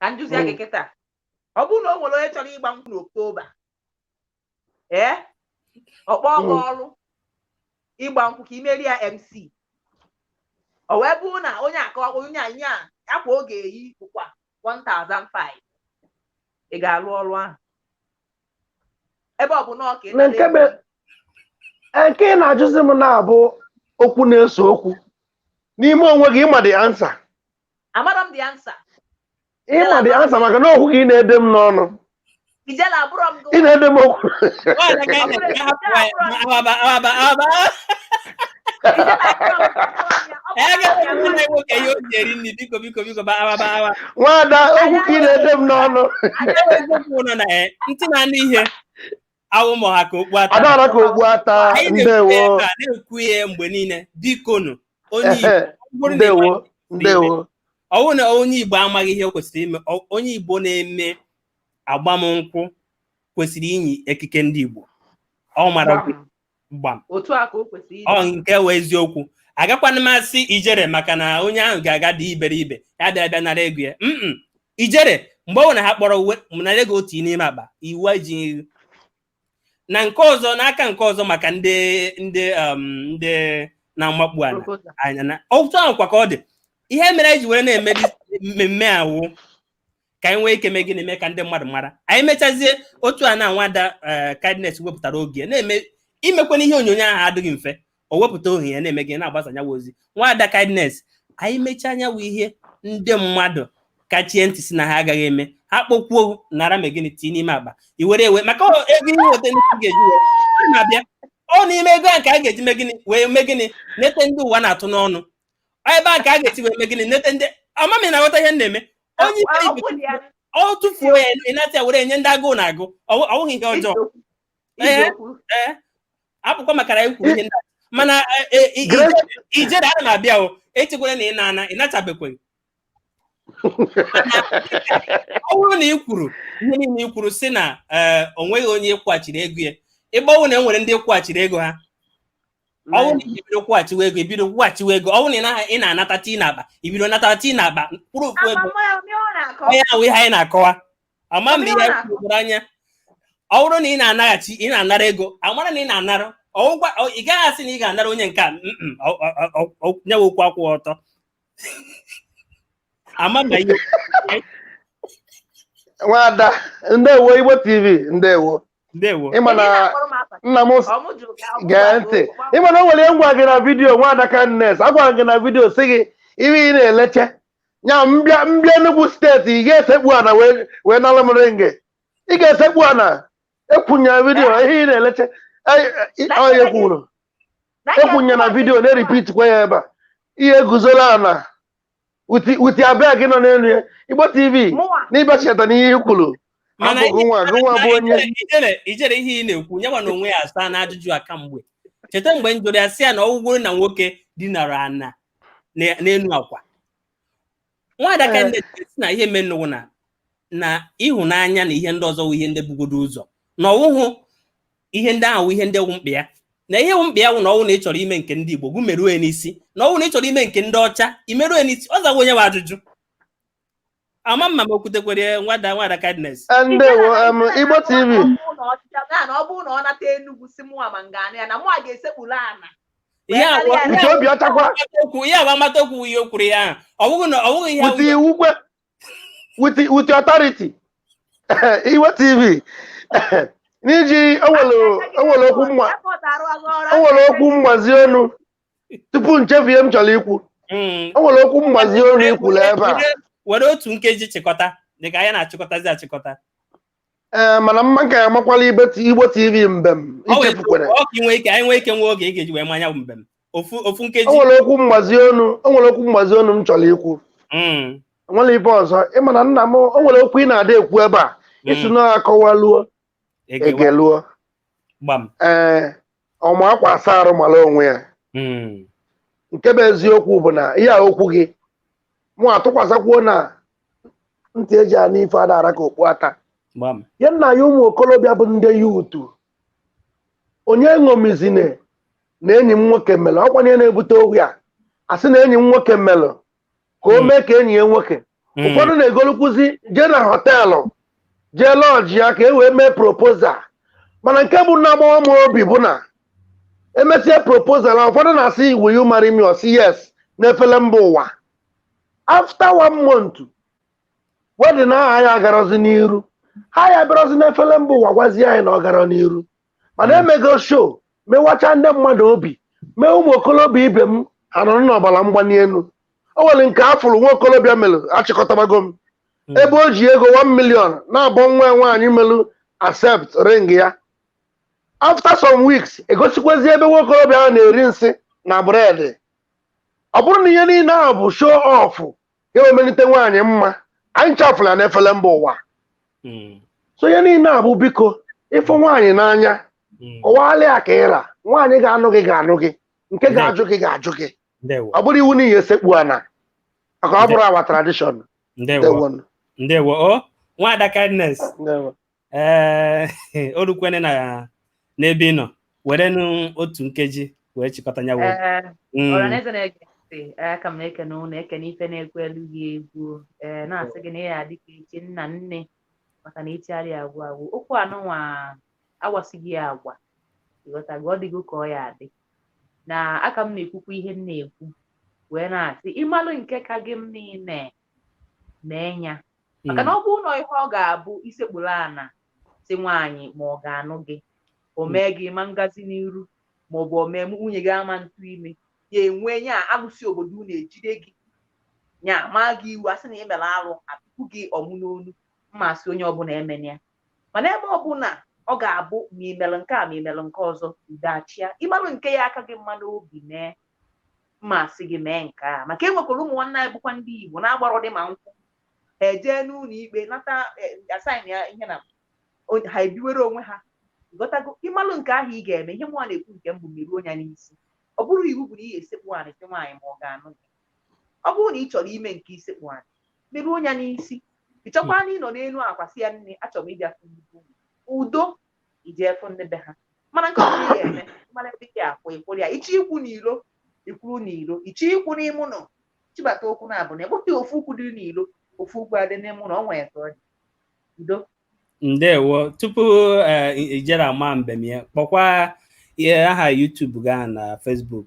ka m jụzie gị kịta ọ bụrụ na o nwere onye chọrọ ịgba nkwụ n'oktoba ee ọ kpọọ gị ọrụ ịgba nkwụ ka i meere ya mc o wee bụrụ na onye aka onye anyị a akwa ọ ga-eyi bụkwa 1005 ị ga-arụ ọrụ ahụ ebe ọ bụ na ọka Na nke bụ- Ee, nke ị na-ajụzi m na-abụ okwu na-eso okwu n'ime onwe gị ị ma the answer Amara m the answer. Ị ma the answer maka na okwu ka ị na-ede m n'ọnụ. Ijele abụrọ m gị. Ị na-ede m okwu. Nwada okwu ka ị na-ede m n'ọnụ. Ntị na-anụ ihe. awụ m ọha ka okpu ata adara ka okpu ata anyị na-ekwu ndewo ya ebe a, na-ekwu ya mgbe niile bikonu ndewo ọ bụrụ na onye Igbo amaghị ihe o kwesịrị ime ọ- onye Igbo na-eme agbamnkwụ kwesịrị inyi ekike ndị Igbo ọ mara gbam otu a ka o kwesịrị ọ ịdị nke wụ eziokwu agakwana m asị Ijele maka na onye ahụ ga-aga dị iberibe ya bịa bịa nara ego ya mm Ijele mgbe ọ bụla ha kpọrọ uwe m nara ego otu n'ime akpa iwu ejighị ego na nke ọzọ n'aka nke ọzọ maka ndị ndị um, ndị na-amakpu ala proposal. anya na otu ahụ kwa ka ọ dị ihe mere anyị ji were na-eme dis- mmemme awụ ka anyị nwee ike mee gịnị mee ka ndị mmadụ mara anyị mechazie otu a na nwada kindness wepụtara oge na-eme imekwana ihe onyonyo ahụ adịghị mfe o wepụta ohere ya na-eme gị na-agbasa anụnwa ozi nwada kindness anyị mechaa anụnwa ihe ndị mmadụ kachie ntị sị na ha agaghị eme ha kpọkwuo nara mee gịnị tii n'ime akpa i were ewe maka ego ihe weta ndị ga-eji na-abịa ọ n'ime ego a nke a ga-eji mee gịnị wee mee gịnị nete ndị ụwa na-atụ n'ọnụ ebe a ka a ga-esi wee mee gịnị nete ndị ama m ị na-aghọta ihe m na-eme onye Ọ- ọ bụrụ ya ọ tụfuo ya ị nata ya were nye ndị agụụ na-agụ ọ wụ- ọ wụghị ihe ọjọọ eziokwu Ee. eziokwu ee ọ bụkwa maka na anyị kwuru ihe ndị a. mana eh, eh, i- Grace, i- Ijele ana m abịa o echekwara na ị na-ana ị natabekweghị ọ bụrụ na ị kwuru ihe niile ị kwuru sị na eh, o nweghị onye ị kwụghachiri ego ya ịgbanwe na e nwere ndị ị kwụghachiri ego ha ọ wụ na ị bido kwụghachiwa ego ibido kwụghachiwa ego ọ wụ na ị na-anata tii na akpa ibido nata tii na akpa kwụrụ okwu ego onye ahụ ihe anyị na-akọwa ama mgbe ihe kwuru anya ọ bụrụ na ị na-anaghachi ị na-anara ego amara na ị na-anara ọgwụgwa ị gaghị asị na ị ga-anara onye nke a nyewe okwu akwụ ọtọ ama mba ihe nwada ndewo igbo tv ndewo ndewo ịma na nna m gee ntị ịma na o nwere ihe m gwa gị na vidiyo nwada kindness agwara gị na vidiyo sị gị ihe ị na-eleche anya m bịa Enugu steeti ị ga-esekpu ana wee nalụ m ringi ị ga-esekpu ana ekwunye na vidiyo ihe ị na-eleche onye kwuru ekwunye na vidiyo na-eripit kwa ya ebe a ihe guzoro ana uti uti abịa gị nọ n'elu ya igbo tv Mụnwa. n'ịbịachita n'ihe i kwuru mana ọ bụ gịnwa gịnwa bụ onye ijere ijere ihe ị na-ekwu onye wa na onwe ya asaana ajụjụ a ka mgbe cheta mgbe m jụrụ ya sị ya na ọ wụgodi na nwoke dinara ana na- n'elu akwa nwada kindness sị na ihe menụ wụ na na ịhụnanya na ihe ndị ọzọ wụ ihe ndị bugodo ụzọ na ọ wụhụ ihe ndị ahụ wụ ihe ndị wụ mkpa ya na ihe wụ mkpa ya wụ na ọ wụ na ị chọrọ ime nke ndị Igbo gụ merue n'isi na ọ wụ na ị chọrọ ime nke ndị ọcha i merue n'isi ọ zawa onye wa ajụjụ ama m ma m kwutekwere nwada nwada kindness Eh, ndewo em, igbo tv ọ bụrụ na ọ nata Enugu sị mụwa ma m ga-anụ ya na mụwa ga-esekpuru ana ihe a bụ- nke obi ọchakwa okwu ihe a bụ amata okwu ihe o kwuru ya ahụ. ọ bụghị na ọ bụghị ihe pụta iwu kwe with with your authority igbo tv n'iji o nwere okwu mm o nwere okwu mgbazi ọnụ tupu m chefue m chọrọ ikwu Mm. o nwere okwu mgbazi ọnụ i kwuru ebe a Were- were otu nkeji chịkọta dịka anyị na-achịkọtazi achịkọta ee mana mma nke a makwala ibe ti- igbo tv mbem Ọ wee- ichefukwere ọ ka ị nwee ike anyị nwee ike nwee oge ị ga-eji wee ma nya bụ mbem ofu ofu o nkeji nwere okwu mgbazi ọnụ o nwere okwu mgbazi ọnụ m chọrọ ikwu Mm, nwere ibe ọzọ ịma na nna m o nwere okwu ị na-ada ekwu ebe a ị sị mm, na akọwaluo egewa, egeluo gbam ee ọ ma akwa asa arụ mara onwe ya hmm. nke bụ eziokwu bụ na ihe a okwu gị mụ atụkwasịkwuo na ntị eji anụ ife ada ara ka okpu ata ya nna ya ụmụ okorobịa bụ ndị youth onye ṅomizine na enyi m nwoke mere ọ kwa nya na-ebute okwu a a sị na enyi m nwoke mere ka o hmm. mee ka enyi ya nwoke hmm. ụfọdụ na-egolukwuzi jee na họteelụ jee lọọjị ya ka e wee mee propozal mana nke bụ na-agbawa m obi bụ na emesịa propozal a ụfọdụ na-asị will you marry me ọ sị yes n'efele mba ụwa after one month wedin ahụ ya agarazi n'iru ha ya bịarazi n'efele mba ụwa gwazie anyị na ọ gara n'iru mana mm. emego show mewacha ndị mmadụ obi mee ụmụ okolobịa ibe m ha nọrọ n'ọbara mgbali elu o nwere nke a fụrụ nwa okolobịa mere achịkọtabago m mm. ebe o ji ego 1 million na-abọ nwa nwaanyị melu accept ring ya after some weeks egosikwazi ebe nwa okolobịa ahụ na-eri nsị na bread ọ bụrụ na ihe niile ahụ bụ show off ga-emelite nwaanyị mma anyị chafụla n'efele mba ụwa hmm. so ihe niile a bụ biko ị fụ nwaanyị n'anya hmm. kọwalị ya ka ị ra nwaanyị ga-anụ gị ga-anụ gị nke ga-ajụ gị ga-ajụ gị ọ bụrọ iwu na ị ya-esekpu ana maka ọ bụrọ our tradition ndewo ndewo o oh, nwaada kindness ee eh, o rukwene na n'ebe ị nọ werenụ otu nkeji wee chịkọta ya wee eh, mm. ọhaneze na-ege ntị eh, a ka m na-ekene ụnụ ekene ife na-ekwu elu gị egwu ee na-asị gị na ị ya dịka ichi nna nne maka na ichigharị agwụ agwụ okwu anụnwa agwasịghị ya agwa ị ghọtago ọ dịgo ka ọ ya-adị na a ka m na-ekwukwa ihe m na-ekwu wee na-asị ị malụ nke ka gị mma niile mee ya maka na hmm. ọ bụrọ ihe ọ ga-abụ isekpuru ana sị nwaanyị ma ọ ga-anụ gị o hmm. mee gị ma ngazi n'iru ma ọ bụ o mee nwunye gị ama ntụ ị mee ya e nwee ya alụsị obodo unu ejide gị ya ma gị iwu asị na ị mere arụ atụpụ gị ọmụ n'onu m ma asị onye ọbụla emene ya mana ebe ọbụla ọ ga-abụ ma ị melụ nke a ma ị melụ nke ọzọ udo achịa ị malụ nke ya-aka gị mma n'obi mee m ma asị gị mee nke a maka enwekwara ụmụ nwanne anyị bụkwa ndị Igbo na-agbarọdị ma nkwụ ha ejee n'ụlọ ikpe nata a sign ya ihe na ha ebiwere onwe ha ị ghọtago ị malụ nke ahụ ị ga-eme ihe m nwa na-ekwu nke mbụ meruo nya n'isi ọ bụrọ iwu bụ na ị ga-esekpu anị sị nwaanyị ma ọ ga-anụ gị ọ bụrụ na ị chọrọ ime nke isekpu anị meruo nya n'isi ị chọkwanụ ịnọ n'elu akwa sị ya nne achọrọ m ịbịa udo ị jee fụ ndị be ha mana nke ọbụla ị ga-eme mara ebe ị ga-akwụ ị kwụrụ ya ị chọ ịkwụ n'ilo ị kwụrụ n'ilo ị chọ ịkwụ n'ime ụlọ chịbata ụkwụ nya abụna egboghị ofu ụkwụ dị n'ilo ofu ụkwụ adị n'ime ụlọ ọ nwere ka ọ dị udo ndewo tupu i jere ama mbem ya kpọkwa ihe aha YouTube gị na Facebook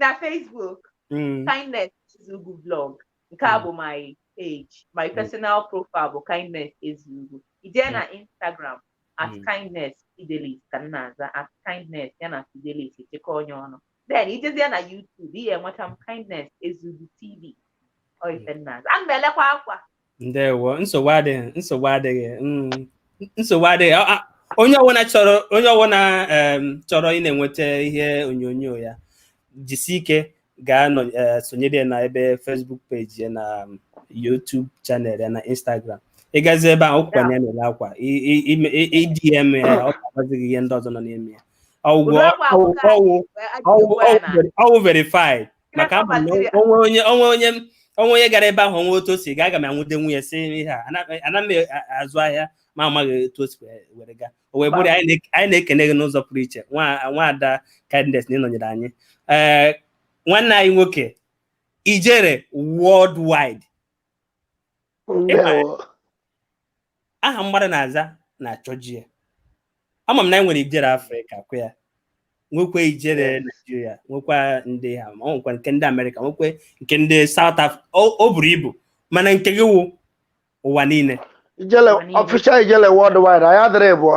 na Facebook mm. kindness ezugwu blog nke a mm. bụ my page my mm. personal profile bụ kindness ezugwu i jee na Instagram at kindness fidelis ka m na-aza at kindness ya na fidelis e chịkọọ nya ọnụ then i jezie na YouTube ị ya-enweta m kindness ezugwu tv ọ ife m na-aza ana m elekwa akwa ndewo nsogbu adịghị nsogbu adịghị mm, nsogbu adịghị A- a- onye ọbụla chọrọ onye ọbụla em, chọrọ ị na-enweta ihe onyonyo ya jisi ike gaa nọ- eh, sonyere ya na ebe Facebook page ya na um, YouTube channel ya na Instagram ị gazi ebe ahụ ọkwa na ya na-ere akwa I- i- ime- i- i DM ya ọ ga-agwazi gị ihe ndị ọzọ nọ n'ime ya ọwụgwọ Ụdị akwa ahụ ọwụ ka ọwụ anyị ji wee- anyị ji ọwụ wee na- ọwụ veri- ọwụ verified maka ama m na o nwee onye o nwee onye m- o nwee onye gara ebe ahụ o nwee otu o si gaa aga m anwụde nwunye si ihe a ana ana m e- a- azụ ahịa ma amaghị otu o si wee- were gaa o wee bụrụ ya, anyị na- anyị na-ekene gị n'ụzọ pụrụ iche nwa nwaada kindness na ịnọnyere anyị ee nwanne anyị nwoke ijere worldwide ndewo aha mmadụ na-aza na-achọje ya ama m na anyị nwere ijere afrịka kwa ya nwekwa ijere naijiria nwekwa ndị ha ma ọ nwekwa nke ndị amerịka nwekwa nke ndị south afrịka o buru ibu mana nke gị wụ ụwa niile ijele official ijele worldwide anyị adịrị ịbụọ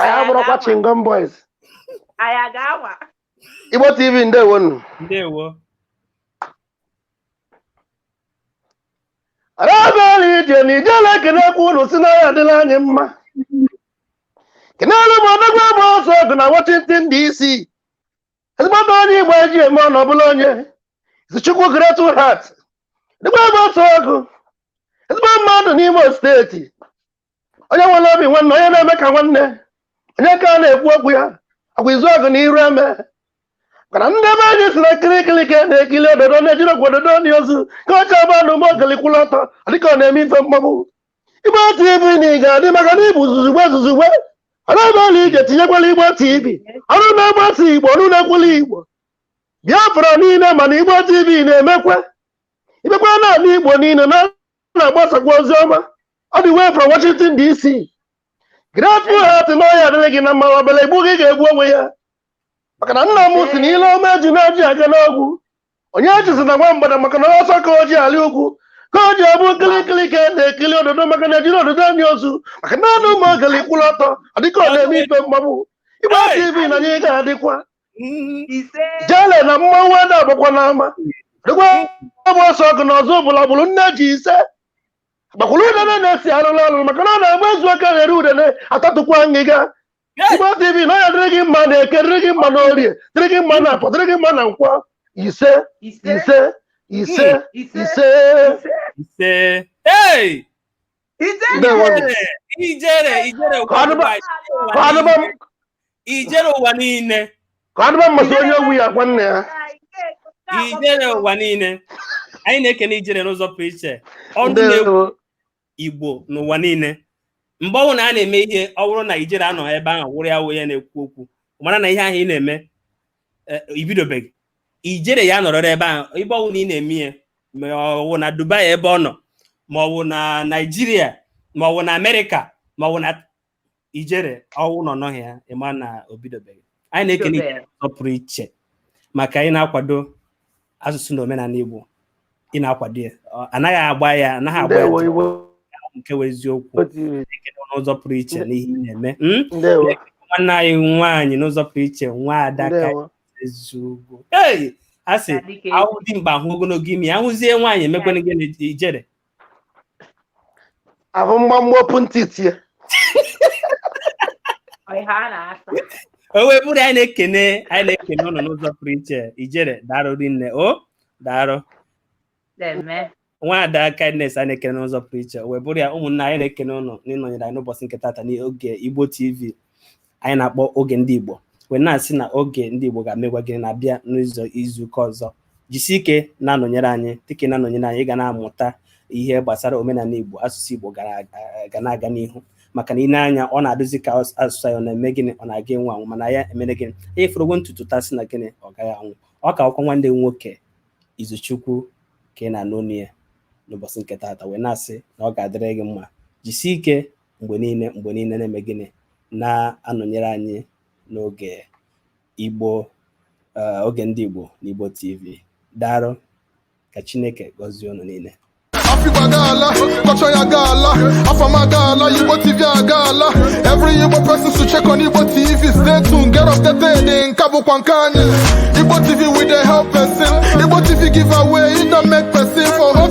anyị abụrụkwa chingom boys anyị aga anwa igbo tv ndewo nụ ndewo rabeli ije na ijele ekenekwu unu sị na ọ ya-adịlị anyị mma kenelu m odogwu bụ ọsọ ọgụ na washington dc ezigbote onye igbo eji eme ọnụ ọbụla onye izuchukwu grateful heart odogwu bụ ọsọ ọgụ ezigbo mmadụ n'imo steeti onye nwere obi nwanne onye na-eme ka nwanne onye ka a na-ekwu okwu ya ọkwa izu ọgụ na iru eme maka na ndị be anyị sị na nkirikiri ka a na-ekiri ododo na ejirọkwa ododo eni ozu ka ọ chọba na ụmụ ogeli kwụrụ ọtọ dịka ọ na-eme ife mgbagbu igbo tv na ị ga-adị maka na ịbụ zuzugbe zuzugbe ọrụ ebe ọla ije tinyekwala igbo tv ọnụ na-agbasa igbo ọnụ na-ekwulu igbo biafra niile mana igbo tv na-emekwa ibekwa n'ana igbo niile na ọ na-agbasakwa ozi ọma all the way from Washington DC grateful heart na ọ ya-adịrị gị na mma ọ bịara igbu gị ga-egbu onwe ya maka na nna m sị na ile ọma ejune ji aga n'ogwu onye ejizina nwa mgbada maka na ọsọ ka o ji alị ugwu ka o ji abụ nkirikiri ka a na-ekiri ododo maka na ejirọ ododo eni ozu maka na anụ ụmụ ogeli kwụrụ ọtọ ọ dịka ọ na-eme ife mgbagbu igbo tv na anyị ga-adịkwa jele na mmanwụ ada agbakwa n'ama dịkwa ọbụ ọsọ ọgụ na ọzọ bụla bụrụ nne ji ise gbakwuru udene na-esi arụrụ ọrụ maka na ọ na-agba ezu aka ghere udene atatụkwa ngịga Igbo TV na ọ ya-adịrị gị mma na eke dịrị gị mma na orie dịrị gị mma na afọ dịrị gị mma na nkwọ ise ise ise ise ise ijere ụwa niile ka adịba mmasị onye ogwu ya gwa nna ya ijere ụwa niile anyị na-ekene ijere n'ụzọ pụrụ iche ọdụ na-egwu igbo n'ụwa niile mgbe ọwụna a na-eme ihe ọ wụrụ na ijere anọghị ebe ahụ wụrụ ya wụ ya na-ekwu okwu mara na ihe ahụ ị na-eme eh, ibidobeghị ijere ya nọrọrị ebe ahụ ebe ọwụna ị na-eme ya ma ọ wụ na dubai ebe ọ nọ ma ọ wụ na naijiria ma ọ wụ na amerịka ma ọ wụ na ijere ọ wụ na ọ nọghị ya ị ma na o bidobeghị anyị na-ekene Ijere n'ụzọ pụrụ iche maka ị na-akwado asụsụ na omenala Igbo ị na-akwado ya Ọ- anaghị agba ya anaghị agba ya ndewo igbo nke wụ eziokwu TV, n'ụzọ pụrụ iche n'ihe ị na-eme Mm? ndewo nwanne anyị nwaanyị n'ụzọ pụrụ iche nwaada kindness eziugwu ei a sị Dike. a hụ dimkpa a hụ ogologo imi a hụzie nwaanyị e mekwana gịnị ijere a hụ mgbamgba opu ntị tie o wee bụrụ anyị na-ekene anyị na-ekene ụnụ n'ụzọ pụrụ iche ijere daalụ rinne o daalụ nwaada kindness anyị na-ekene n'ụzọ pụrụ iche o wee bụrụ ya ụmụnna anyị na-ekene ụnụ n'ịnọnyere anyị n'ụbọchị nke tata n'oge igbo tv anyị na-akpọ oge ndị Igbo wee na-asị na oge ndị Igbo ga-emekwa gịnị abịa n'izuụka ọzọ jisi ike na-anọnyere anyị dịka ị na-anọnyere anyị ị ga na-amụta ihe gbasara omenala Igbo asụsụ Igbo ga na-aga n'ihu maka na i nee anya ọ na-adịzi ka asụsụ anyị ọ na-eme gịnị ọ na-aga anwụ anwụ mana anyị emere gịnị anyị fọrọgwo ntutu taa sị na gịnị ọ gaghị anwụ ọ ka wụkwa nwanne nwoke Izuchukwu ka ị na-anụ onu ya n'ụbọchị nke taata wee na-asị na ọ ga-adịrị gị mma jisie ike mgbe niile mgbe niile na-eme gịnị na-anọnyere anyị n'oge Igbo eh, oge ndị Igbo na Igbo TV daalụ ka Chineke gọzie unu niile Africa gala, culture ya gala, Afama gala, Igbo TV ya gala. Every Igbo person should check on Igbo TV. Stay tuned, get updated in Kabu Kwankani. Igbo TV wey dey help person. Igbo TV give away, e don make person for hope.